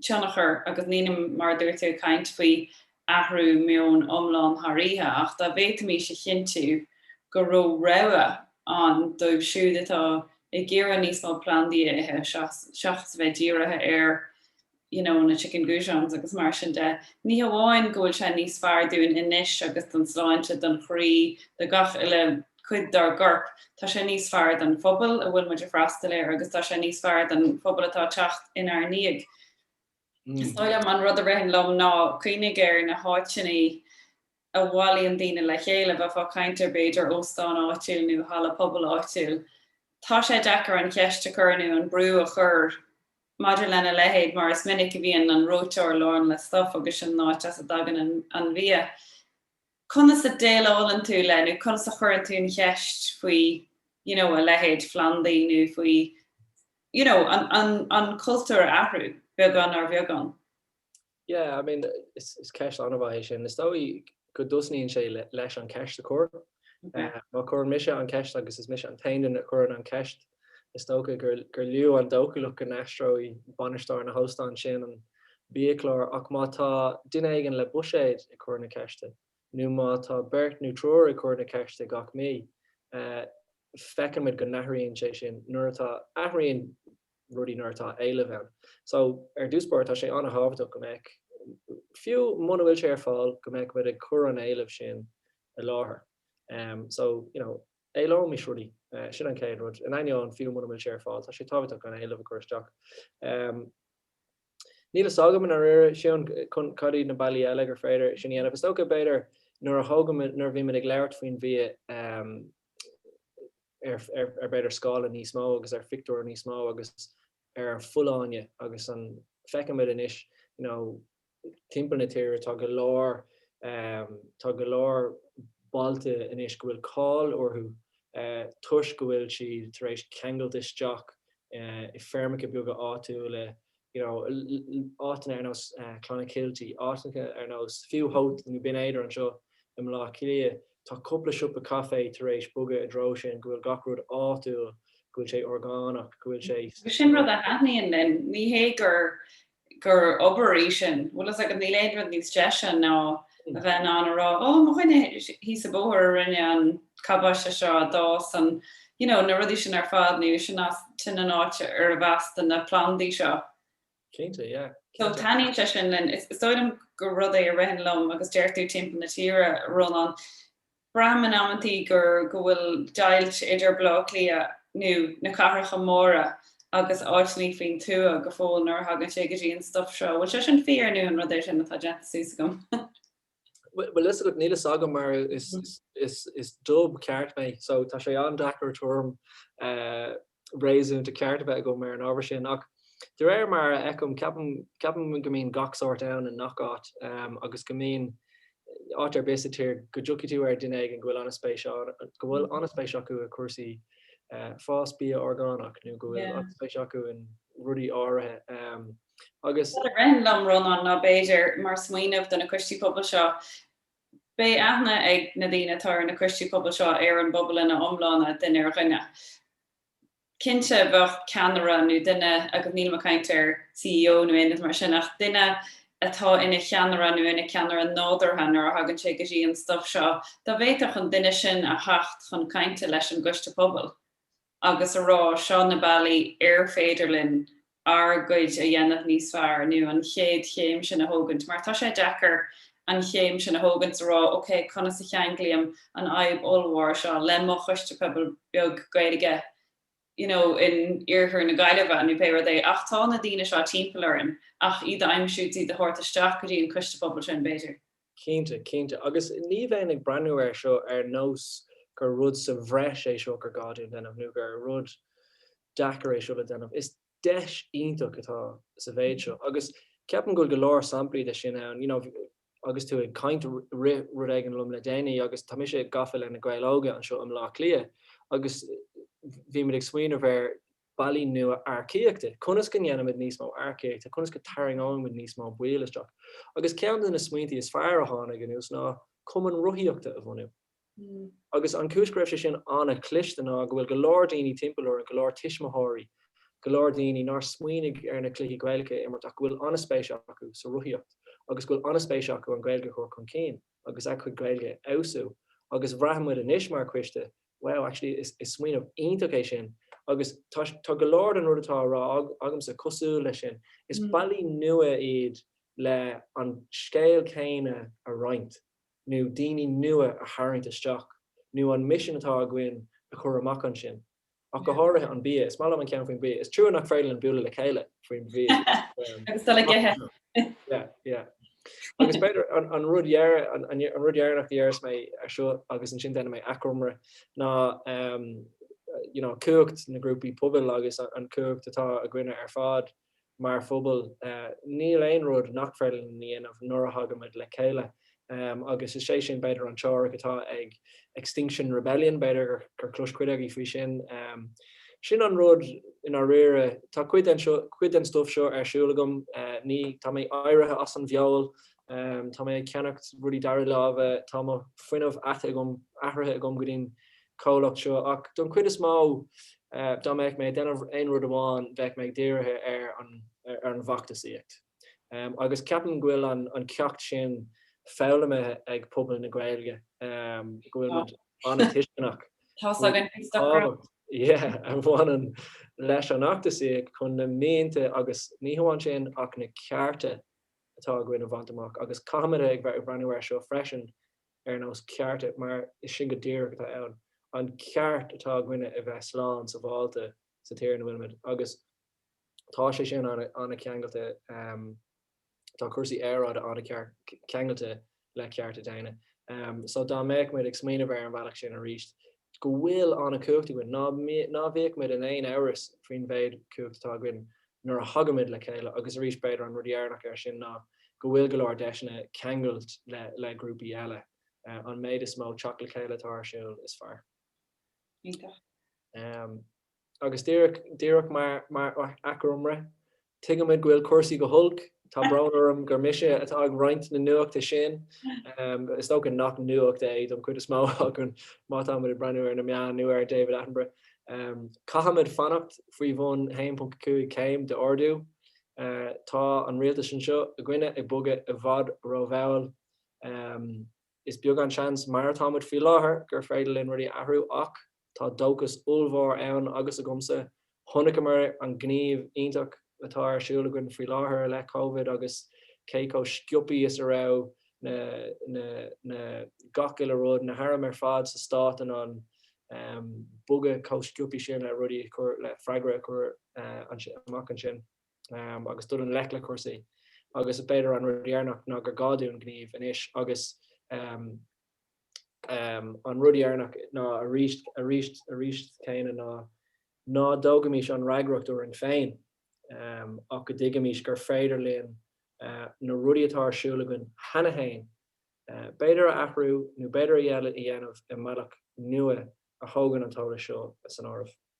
S1: tionchar agus níl mé mar a dúirt tú ag caint faoi athrú meoin iomlán thar oíche ach dá bhféadfaimís a chinntiú go raibh rogha ann dóibh siúd atá ag iarraidh níos mó plandaí a ithe seachas a bheith dírithe ar you know na chicken goujons agus mar sin de. Ní hamháin go bhfuil sé níos fearr dúinn anois agus don tsláinte, don chroí, do gach uile cuid dár gcorp. Tá sé níos fearr don phobal a bhfuil muid a freastal air agus tá sé níos fearr don phobal atá a teacht inár ndiaidh. Is dóigh liom an rud a ritheann liom ná cuimhnigh ar na háiteannaí a bhailíonn daoine le chéile, bheifeá ag caint ar b'fhéidir óstán áitiúil nó halla pobail áitiúil. Tá sé deacair an cheist a chur nó an brú a chur maidir lena leithéid mar is minic a bhíonn an reoiteoir lán le stuff agus sin an áit as a dtagann an bia. Conas a déileálann tú le, nó conas a chuireann tú an cheist faoi, you know, a leithéid phlandaí nó faoi, you know, an, an cultúr a athrú, beagán ar bheagán? Yeah, I mean, is ceist an-mhaith é sin. Is dóigh go dtosnaíonn sé leis an cheist a chur. Má chuireann mise an cheist agus is mise an t-aon duine a chuireann an cheist, Is dócha gur lú an dóchúlacht go n-aistreoidh bainisteoir an óstáin sin an biachlár ach má tá duine éigin le buiséad ag cur na ceiste, nó má tá beirt nó triúr ag cur na ceiste gach mí, feicimid go n-athraíonn sé sin nuair atá, athraíonn rudaí nuair atá éileamh ann. So, ar dtús báire, tá sé an-thábhachtach go mbeadh, fiú muna bhfuil sé ar fáil, go mbeadh muid ag cur an éilimh sin i láthair. So, you know, éileoimis rudaí. Sin an chéad rud. In ainneoin, fiú muna bhfuil sé ar fáil, tá sé tábhachtach an t-éileamh a chur isteach. Níl fhios agam i ndáiríre, Siún, cad iad na bealaí eile gur féidir sin a dhéanamh. Is dócha, b'fhéidir, nuair a thógaimid, nuair a bhímid ag labhairt faoin bhia ar, ar, ar b'fhéidir scála níos mó agus ar phictiúr níos mó agus ar an bhfolláine agus an, feicimid anois, you know, Timpeall na tíre tá go leor, tá go leor bailte anois go bhfuil cáil orthu toisc go bhfuil siad tar éis ceangailt isteach i feirmeacha beaga áitiúla, you know, áiteanna ar nós Clonakilty, áiteanna ar nós fiú Howth nó Binn Éadair anseo i mBleá Cliath. Tá cupla siopa caifé tar éis bogadh i dtreo sin, go bhfuil gach rud áitiúil, go bhfuil sé orgánach, go bhfuil sé. Sin rud a thaitníonn linn. Ní hé gur gur obair í sin. Bhfuil fhios agat, níl aon rud níos deise ná a bheith in ann a rá, Ó, mo dhuine thíos sa bóthar a rinne an cabáiste seo, a d'fhás an, you know, na rudaí sin ar fad, nó sin é díreach an áit ar fhás na plandaí seo. Cinnte, yeah. So taitníonn sé sin linn. Is dóigh liom gur rud é a ritheann liom agus deir tú timpeall na tíre a Rónán. Braithim in amanntaí gur go bhfuil deighilt idir Baile Átha Cliath nó na cathracha móra agus áiteannaí faoin tuath go fóill nuair a thagann sé go dtí an stuif seo. Bhfuil sé sin fíor nó an rud é sin atá déanta suas agam? Bhfuil fhios agat, níl fhios agam mar is Dub ceart mé so tá sé an-deacair orm réasúnta ceart a bheith agam ar an ábhar sin. Ach de réir mar a fheicim, ceapaim, ceapaim go mbíonn gach sórt ann i ngach áit agus go mbíonn, áit ar bith sa tír, go dtiocfaidh tú ar dhuine éigin go bhfuil spéis ann, go bhfuil an-spéis acu i gcúrsaí fás bia orgánach nó go bhfuil an-spéis acu in rudaí áirithe agus. Rud a ritheann liom, Rónán, ná b'fhéidir, mar smaoineamh do na coistí pobail seo, Beidh aithne ag na daoine atá ar na coistí pobail seo ar an bpobal ina iomláine, duine ar dhuine. Cinnte bheadh ceannaire nó duine, agus nílim ag caint ar CEO nó aon rud mar sin, ach duine atá ina cheannaire nó ina ceannaire nádúrtha nuair a thagann sé go dtí an stuif seo, dá bhféadfadh an duine sin a theacht chun cainte leis an gcoiste pobail. agus a rá seo na bealaí ar féidir linn ár gcuid a dhéanamh níos fearr nó an chéad chéim sin a thógaint mar tá sé deacair an chéim sin a thógaint a rá ok conas a cheanglaím an fhadhb ollmhór seo le mo choiste pobail beag Gaeilge you know in iarthar na Gaillimhe nó pé rud é ach tá na daoine seo timpeall orainn ach iad a aimsiú iad a thabhairt isteach go dtí an coiste pobail sin b'fhéidir. Cinnte, cinnte. Agus ní bheinn ag breathnú air seo ar nós gur rud sa bhreis é seo gur gá dúinn déanamh nó gur rud deacair é seo le déanamh. Is deis iontach atá sa mhéid seo agus ceapaim go bhfuil go leor samplaí de sin ann. You know, agus tú ag caint rith rud éigin liom le déanaí agus tá mise gafa le Na Gaeil Óga anseo i mBleá Cliath agus bhímid ag smaoineamh ar bealaí nua earcaíochta, conas go ndéanfaimid níos mó earcaíochta, conas go tarraingeoimid níos mó baill isteach. Agus ceann de na smaointí is fearr a tháinig anuas ná cumann rothaíochta a bhunú. Agus an chúis go raibh sé sin an-chliste ná go bhfuil go leor daoine timpeall orainn, go leor tuismitheoirí, go leor daoine nár smaoinigh ar na cluichí Gaelacha a imirt ach go bhfuil an-spéis acu sa rothaíocht agus go bhfuil an-spéis acu an Ghaeilge a chur chun cinn. agus a gcuid Gaeilge a fheabhsú agus bhraith muid anois mar coiste, wow, actually is smaoineamh iontach é sin agus tá go leor den rud atá á rá agamsa cosúil leis sin. Is bealaí nua iad le an scéal céanna a roinnt nó daoine nua a tharraingt isteach nó an misean atá againn a chur amach ansin. Ach go háirithe an bia. Is maith liom an ceann faoin bia. Is trua nach féidir linn bualadh le chéile faoin bhia. Agus dul ag ithe. Yeah, yeah. Agus b'fhéidir an rud deireanach a dhéarfas mé ar seo agus ansin déanfaidh mé achoimre ná you know cumhacht na ngrúpaí pobail agus an chumhacht atá againne ar fad mar phobal. Níl aon rud nach féidir linn a dhéanamh nuair a thagaimid le chéile. Agus is é sin b'fhéidir an teoiric atá ag Extinction Rebellion, b'fhéidir gur chlos cuid agaibh faoi sin. Sin an rud i ndáiríre. Tá cuid den stuff seo ar siúl agam. Tá mé éirithe as an bhfeoil. Tá mé ag ceannacht rudaí dara láimhe. Tá mo fuinneamh athraithe agam go dtí'n comhlacht seo ach don chuid is mó dá mbeadh mé ag déanamh aon rud amháin bheadh mé dírithe ar an bhfeachtasaíocht agus ceapaim go bhfuil an ceacht sin foghlamtha ag pobal na Gaeilge go bhfuil muid an-tuisceanach faoin tábhacht a bhaineann leis an fheachtasaíocht chun na mianta agus ní hamháin sin ach na cearta atá againn a bhaint amach agus caithfimid ag breathnú air seo freisin ar nós cearta, mar is sin go díreach atá ann, an ceart atá againne a bheith slán sabháilte sa tír ina bhfuilimid. Agus tá sé sin an-cheangailte, tá cúrsaí aeráide an-cheangailte le cearta daonna. So dá mbeadh muid ag smaoineamh ar an bhealach sin aríst, go bhfuil an-chumhacht againn, ná ná bhíochmid in aon amhras faoin mhéid chumhacht atá againn nuair a thagaimid le chéile agus arís b'fhéidir an rud deireanach air sin ná go bhfuil go leor deiseanna ceangailt le le grúpaí eile. An méid is mó teacht le chéile atá ar siúl is fearr. Iontach. Agus díreach, díreach mar, mar achoimre, tuigimid go bhfuil cúrsaí go holc, tá brón orm gur mise atá ag roinnt na nuachta sin, is dócha nach nuacht é don chuid is mó againn má táimid ag breathnú ar na meáin nó ar David Attenborough. Caithfimid fanacht faoi bhun 1.5 céim de ardú. Tá an rialtas anseo againne ag bogadh i bhfad rómhall. Is beag an seans mar atá muid faoi láthair gur féidir linn rudaí a athrú ach tá dóchas ollmhór ann agus agamsa. Chonaiceamar an gníomh iontach atá ar siúl againn faoi láthair i leith Covid agus cé chomh sciopaí is a raibh na gach uile rud, na hairm ar fad sa Stát in ann bogadh chomh sciopaí sin le rudaí a chur, le freagra a chur amach ansin. agus dul i ngleic le cúrsaí agus b'fhéidir an rud deireanach ná gur gá dúinn gníomh anois agus an rud deireanach ná arís arís arís céanna ná ná tógaimis an fhreagracht orainn féin ach go dtuigimis gur féidir linn na rudaí atá ar siúl againn cheana féin b'fhéidir a athrú nó b'fhéidir a dhéanamh i mbealach nua a thógann an t-eolas seo san áireamh.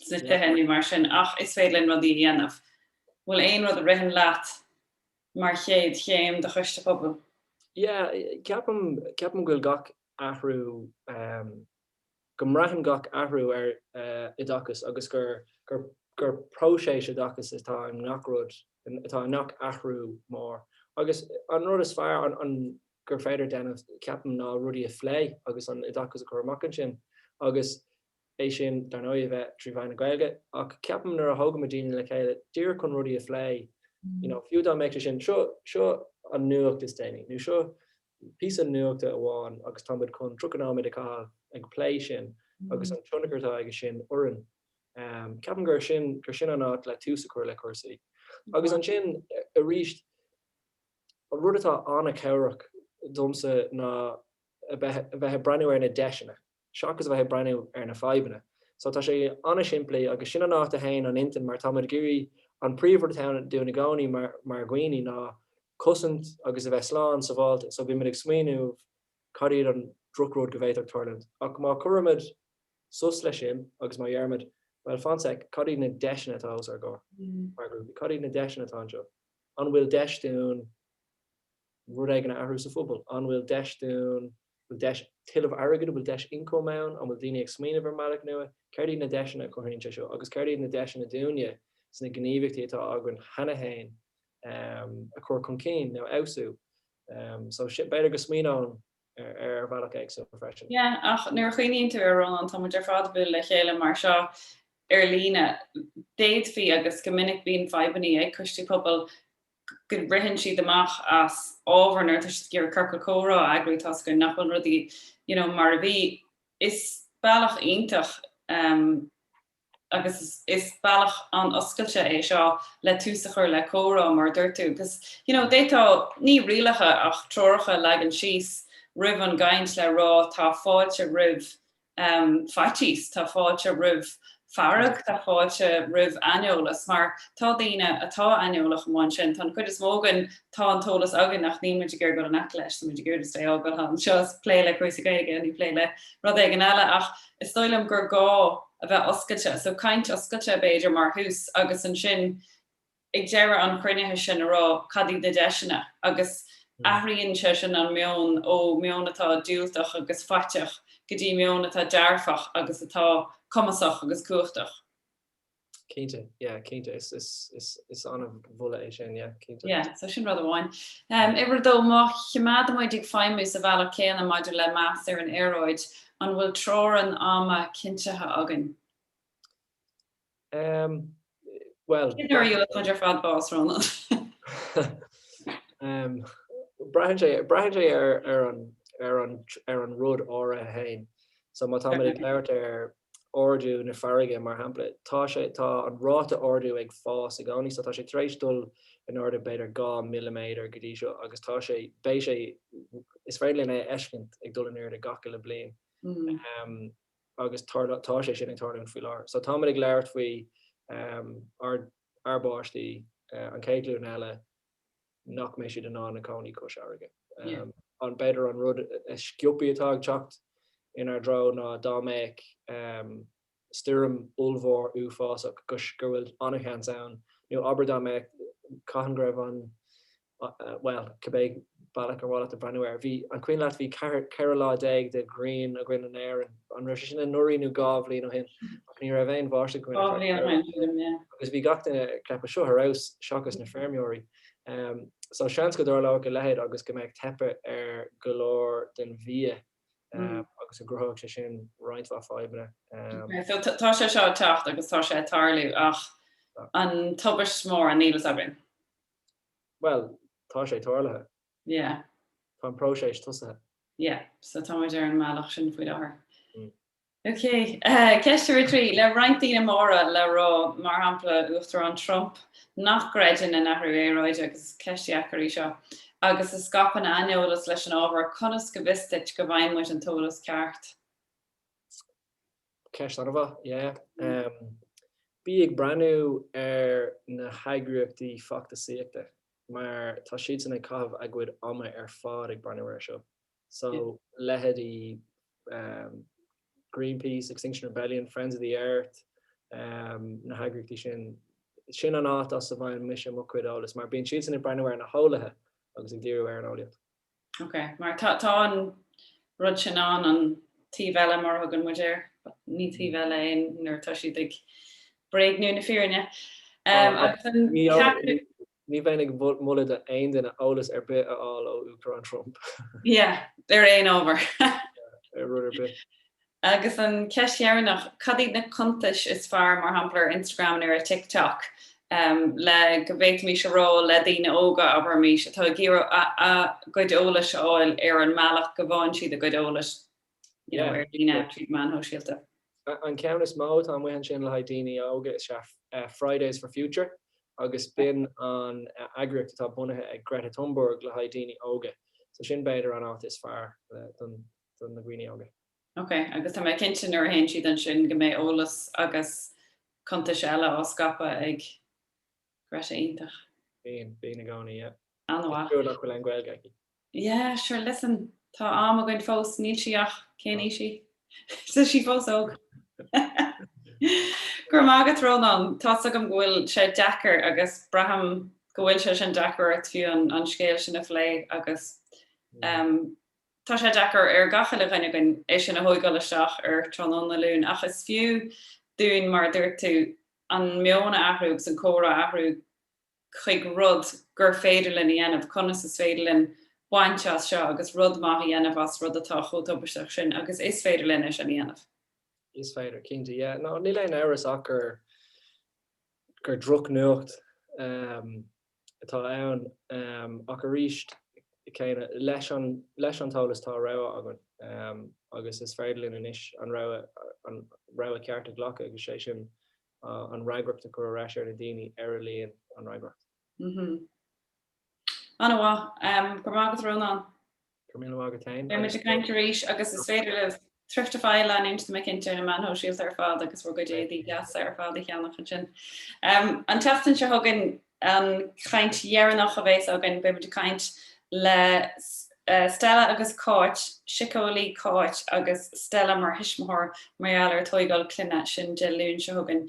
S1: sna tithe nó mar sin ach is féidir linn rudaí a dhéanamh. Bhfuil aon rud a ritheann leat mar chéad chéim do choiste pobail? Yeah, ceapaim, ceapaim go bhfuil gach athrú, go mbraitheann gach athrú ar oideachas agus gur, gur, gur próiseas oideachais atá i ngach rud, atá i ngach athrú mór. Agus an rud is fearr, an, an, gur féidir déanamh, ceapaim, ná rudaí a phlé agus an t-oideachas a chur amach ansin agus é sin dar ndóigh a bheith trí mheán na Gaeilge ach ceapaim nuair a thógaimid daoine le chéile díreach chun rudaí a phlé you know fiú dá mbeadh sé sin seo seo an nuacht is déanaí nó seo píosa nuachta amháin agus tá muid chun 30 nóiméad a chaitheamh ag plé sin agus an tionchar atá aige sin orainn em ceapaim gur sin gur sin an áit le tús a chur le cúrsaí agus ansin arís an rud atá an-chabhrach domsa ná a bheith a bheith ag breathnú ar na deiseanna seachas a bheith ag breathnú ar na fadhbanna. So tá sé an-simplí agus sin an áit a théann an intinn mar táimid ag iarraidh, an príomhrud atá ann dúinn i gcónaí mar dhaoine ná cosaint agus a bheith slán sabháilte so bímid ag smaoineamh cad iad an drochrud go bhféadfadh tarlúint ach má chuirimid sos leis sin agus má dheirimid bhuel fan 'sec, cad iad na deiseanna atá os ár gcomhair mar ghrúpaí, cad iad na deiseanna atá anseo, an bhfuil deis dúinn rud éigin a athrú sa phobal, an bhfuil deis dúinn. bhfuil deis tuilleamh airgid, an bhfuil deis ioncaim ann, an bhfuil daoine ag smaoineamh ar an mbealach nua, céard iad na deiseanna a chruthaíonn sé seo agus céard iad na deiseanna dúinne sna gníomhaíochtaí atá againn cheana féin a chur chun cinn nó a fheabhsú. So sin, b'fhéidir go smaoineoinn air ar bhealach éagsúil freisin. Yeah, ach nuair a chuimhníonn tú air, Rónán, tá muid ar fad ag bualadh le chéile mar seo ar líne. D'fhéadfaí, agus go minic bíonn fadhbannaí ag coistí pobail go ritheann siad amach as ábhar nuair atá siad ag iarraidh ciorcal comhrá a eagrú toisc go nach bhfuil rudaí you know mar a bhí. Is bealach iontach ehm agus is is bealach an-oscailte é seo le tús a chur le comhrá mar a dúirt tú agus you know d'fhéadfá, ní rialacha ach treoracha a leagan síos roimh an gcaint le rá tá fáilte roimh faitíos, tá fáilte roimh fearg, tá fáilte roimh aineolas mar tá daoine atá aineolach amuigh ansin. Tá an chuid is mó againn, tá an t-eolas againn ach níl muid ag iarraidh dul in aice leis, tá muid ag iarraidh stay sábháilte anseo is plé le cúrsaí Gaeilge nó plé le rud éigin eile ach is dóigh liom gur gá a bheith oscailte. So caint oscailte b'fhéidir mar thús agus ansin, ag deireadh an chruinnithe sin a rá cad iad na deiseanna agus athraíonn sé sin an meon ó mheon atá diúltach agus faiteach go dtí meon atá dearfach agus atá cumasach agus cumhachtach. Cinnte, yeah, cinnte. Is, is, is, is an-mholadh é sin, yeah, cinnte. Yeah, so sin rud amháin. Um, uimhir dó, má chimeádaimid ag feidhmiú sa bhealach céanna maidir le meas ar an aeráid, an bhfuil teorainn ama cinntithe againn? Ehm, bhuel. Cé deireadh a chuid ar fad bás, Rónán? Ehm, braitheann sé, braitheann sé ar, ar an, ar an, ar an rud áirithe féin. So má táimid ag labhairt ar ardú na farraige, mar shampla, tá sé, tá an ráta ardú ag fás i gcónaí, so tá sé tar éis dul in airde b'fhéidir dhá milliméadar go dtí seo agus tá sé, beidh sé, is féidir linn é a fheiscint ag dul in airde gach uile bliain. Ehm, agus tarla, tá sé sin ag tarlúint faoi láthair. So táimid ag labhairt faoi ár, ár bpáistí an chéad ghlúin eile nach mbeidh siad in ann cónaí cois fharraige. An b'fhéidir an rud is sciopthaí atá ag teacht inár dtreo ná dá mbeadh stoirm ollmhór uafásach go bhfuil ana-sheans ann, nó abair dá mbeadh, cathain go raibh an, bhuel, cibé bealach ar mhaith leat breathnú air. Bhí, an cuimhin leat, bhí ceathair, ceithre lá déag de ghrian againn in Éirinn, an raibh sé sin anuraidh nó dhá bhliain ó shin, ach ní raibh aon bháisteach againn ar feadh ceithre lá. Agus bhí gach duine ag ceapadh, seo thar barr, seachas na feirmeoirí. So, seans go dtarlóidh a leithéid agus go mbeidh teipeadh ar go leor den bhia agus go gcruthóidh sé sin roinnt mhaith fadhbanna. So, tá sé seo ag teacht agus tá sé ag tarlú ach an tubaiste mór, níl fhios againn. Bhuel, tá sé tarlaithe. Yeah. Tá an próiseas tosaithe. Yeah. So tá muid ar an mbealach sin faoi láthair. Mm. OK. Ceist uimhir trí. Le roinnt daoine móra le rá, mar shampla Uachtarán Trump, nach gcreideann in athrú aeráide, agus is ceist dheacair í seo, agus a scaipeann aineolas leis an ábhar, conas go bhfios dúinn go bhfaighidh muid an t-eolas ceart? Ceist an-mhaith, yeah. Bí ag breathnú ar na heagraíochtaí feachtasaíochta mar tá siadsan ag caitheamh a gcuid ama ar fad ag breathnú air seo. So, leitheidí Greenpeace, Extinction Rebellion, Friends of the Earth, na heagraíochtaí sin, sin an áit as a bhfaigheann mise mo chuid eolais mar bíonn siadsan ag breathnú ar na heolaithe agus ag díriú ar an eolaíocht. Ok, mar tá, tá an rud sin ann, an taobh eile mar a thugann muid air, ní taobh eile é nuair atá siad ag bréagnú na fírinne. Ní bheinn ag moladh do aon duine eolas ar bith a fháil ó Uachtarán Trump. Yeah, ar aon ábhar. Ar rud ar bith. Agus an ceist dheireannach, cad iad na cuntais is fearr, mar shampla ar Instagram nó ar TikTok, le go bhféadfaimís a rá le daoine óga, abraimís, atá ag iarraidh a gcuid eolais a fháil ar an mbealach go bhfaigheann siad a gcuid eolais you know ar líne tríd meáin shóisialta? An ceann is mó atá amuigh ansin le haghaidh daoine óga is ea Fridays for Future agus b'in an eagraíocht atá bunaithe ag Greta Thunberg le haghaidh daoine óga. So sin b'fhéidir an áit is fearr don. do na daoine óga. Ok, agus tá mé cinnte nuair a théann siad ansin go mbeidh eolas agus cuntais eile á scaipeadh ag Greta iontach. Bíonn, bíonn i gcónaí, yeah. An-mhaith. Is trua nach bhfuil Gaeilge aici. Yeah, sure, listen, tá am againn fós, níl sí ach, cén aois í? Tá sí fós óg. Go raibh maith agat Rónán, tá's agam go bhfuil sé deacair agus braithim go bhfuil sé sin deacair ort fiú an scéal sin a phlé agus Tá sé deacair ar chuile dhuine againn é sin a thóigeáil isteach ar tráthnóna Luain ach is fiú dúinn, mar a dúirt tú, an meon a athrú agus an comhrá a athrú chuig rud gur féidir linn a dhéanamh, conas is féidir linn baint de seo agus rud maith a dhéanamh as rud atá chomh tubaisteach sin agus is féidir linn é sin a dhéanamh. Is féidir, cinnte. Yeah, no, níl aon amhras ach gur, gur drochnuacht. atá ann, ach aríst céanna, leis an t-eolas tá rogha againn agus is féidir linn anois an rogha ceart a ghlacadh agus sé sin an fhreagracht a chur ar ais ar na daoine ar a luíonn an fhreagracht. An-mhaith. Go raibh maith agat, Rónán. Go raibh míle maith agat fhéin. Beimid ag caint arís agus is féidir libh Thriftify a leanúint timpeall ar na meáin shóisialta ar fad agus bhur gcuid éadaí deasa ar fad a cheannach ansin. An tseachtain seo chugainn an chaint dheireanach a bhéas againn, beimid ag caint le Stella agus Cáit, Siceolaí Cáit agus Stella mar thuismitheoir mar gheall ar tógáil clainne, sin Dé Luain seo chugainn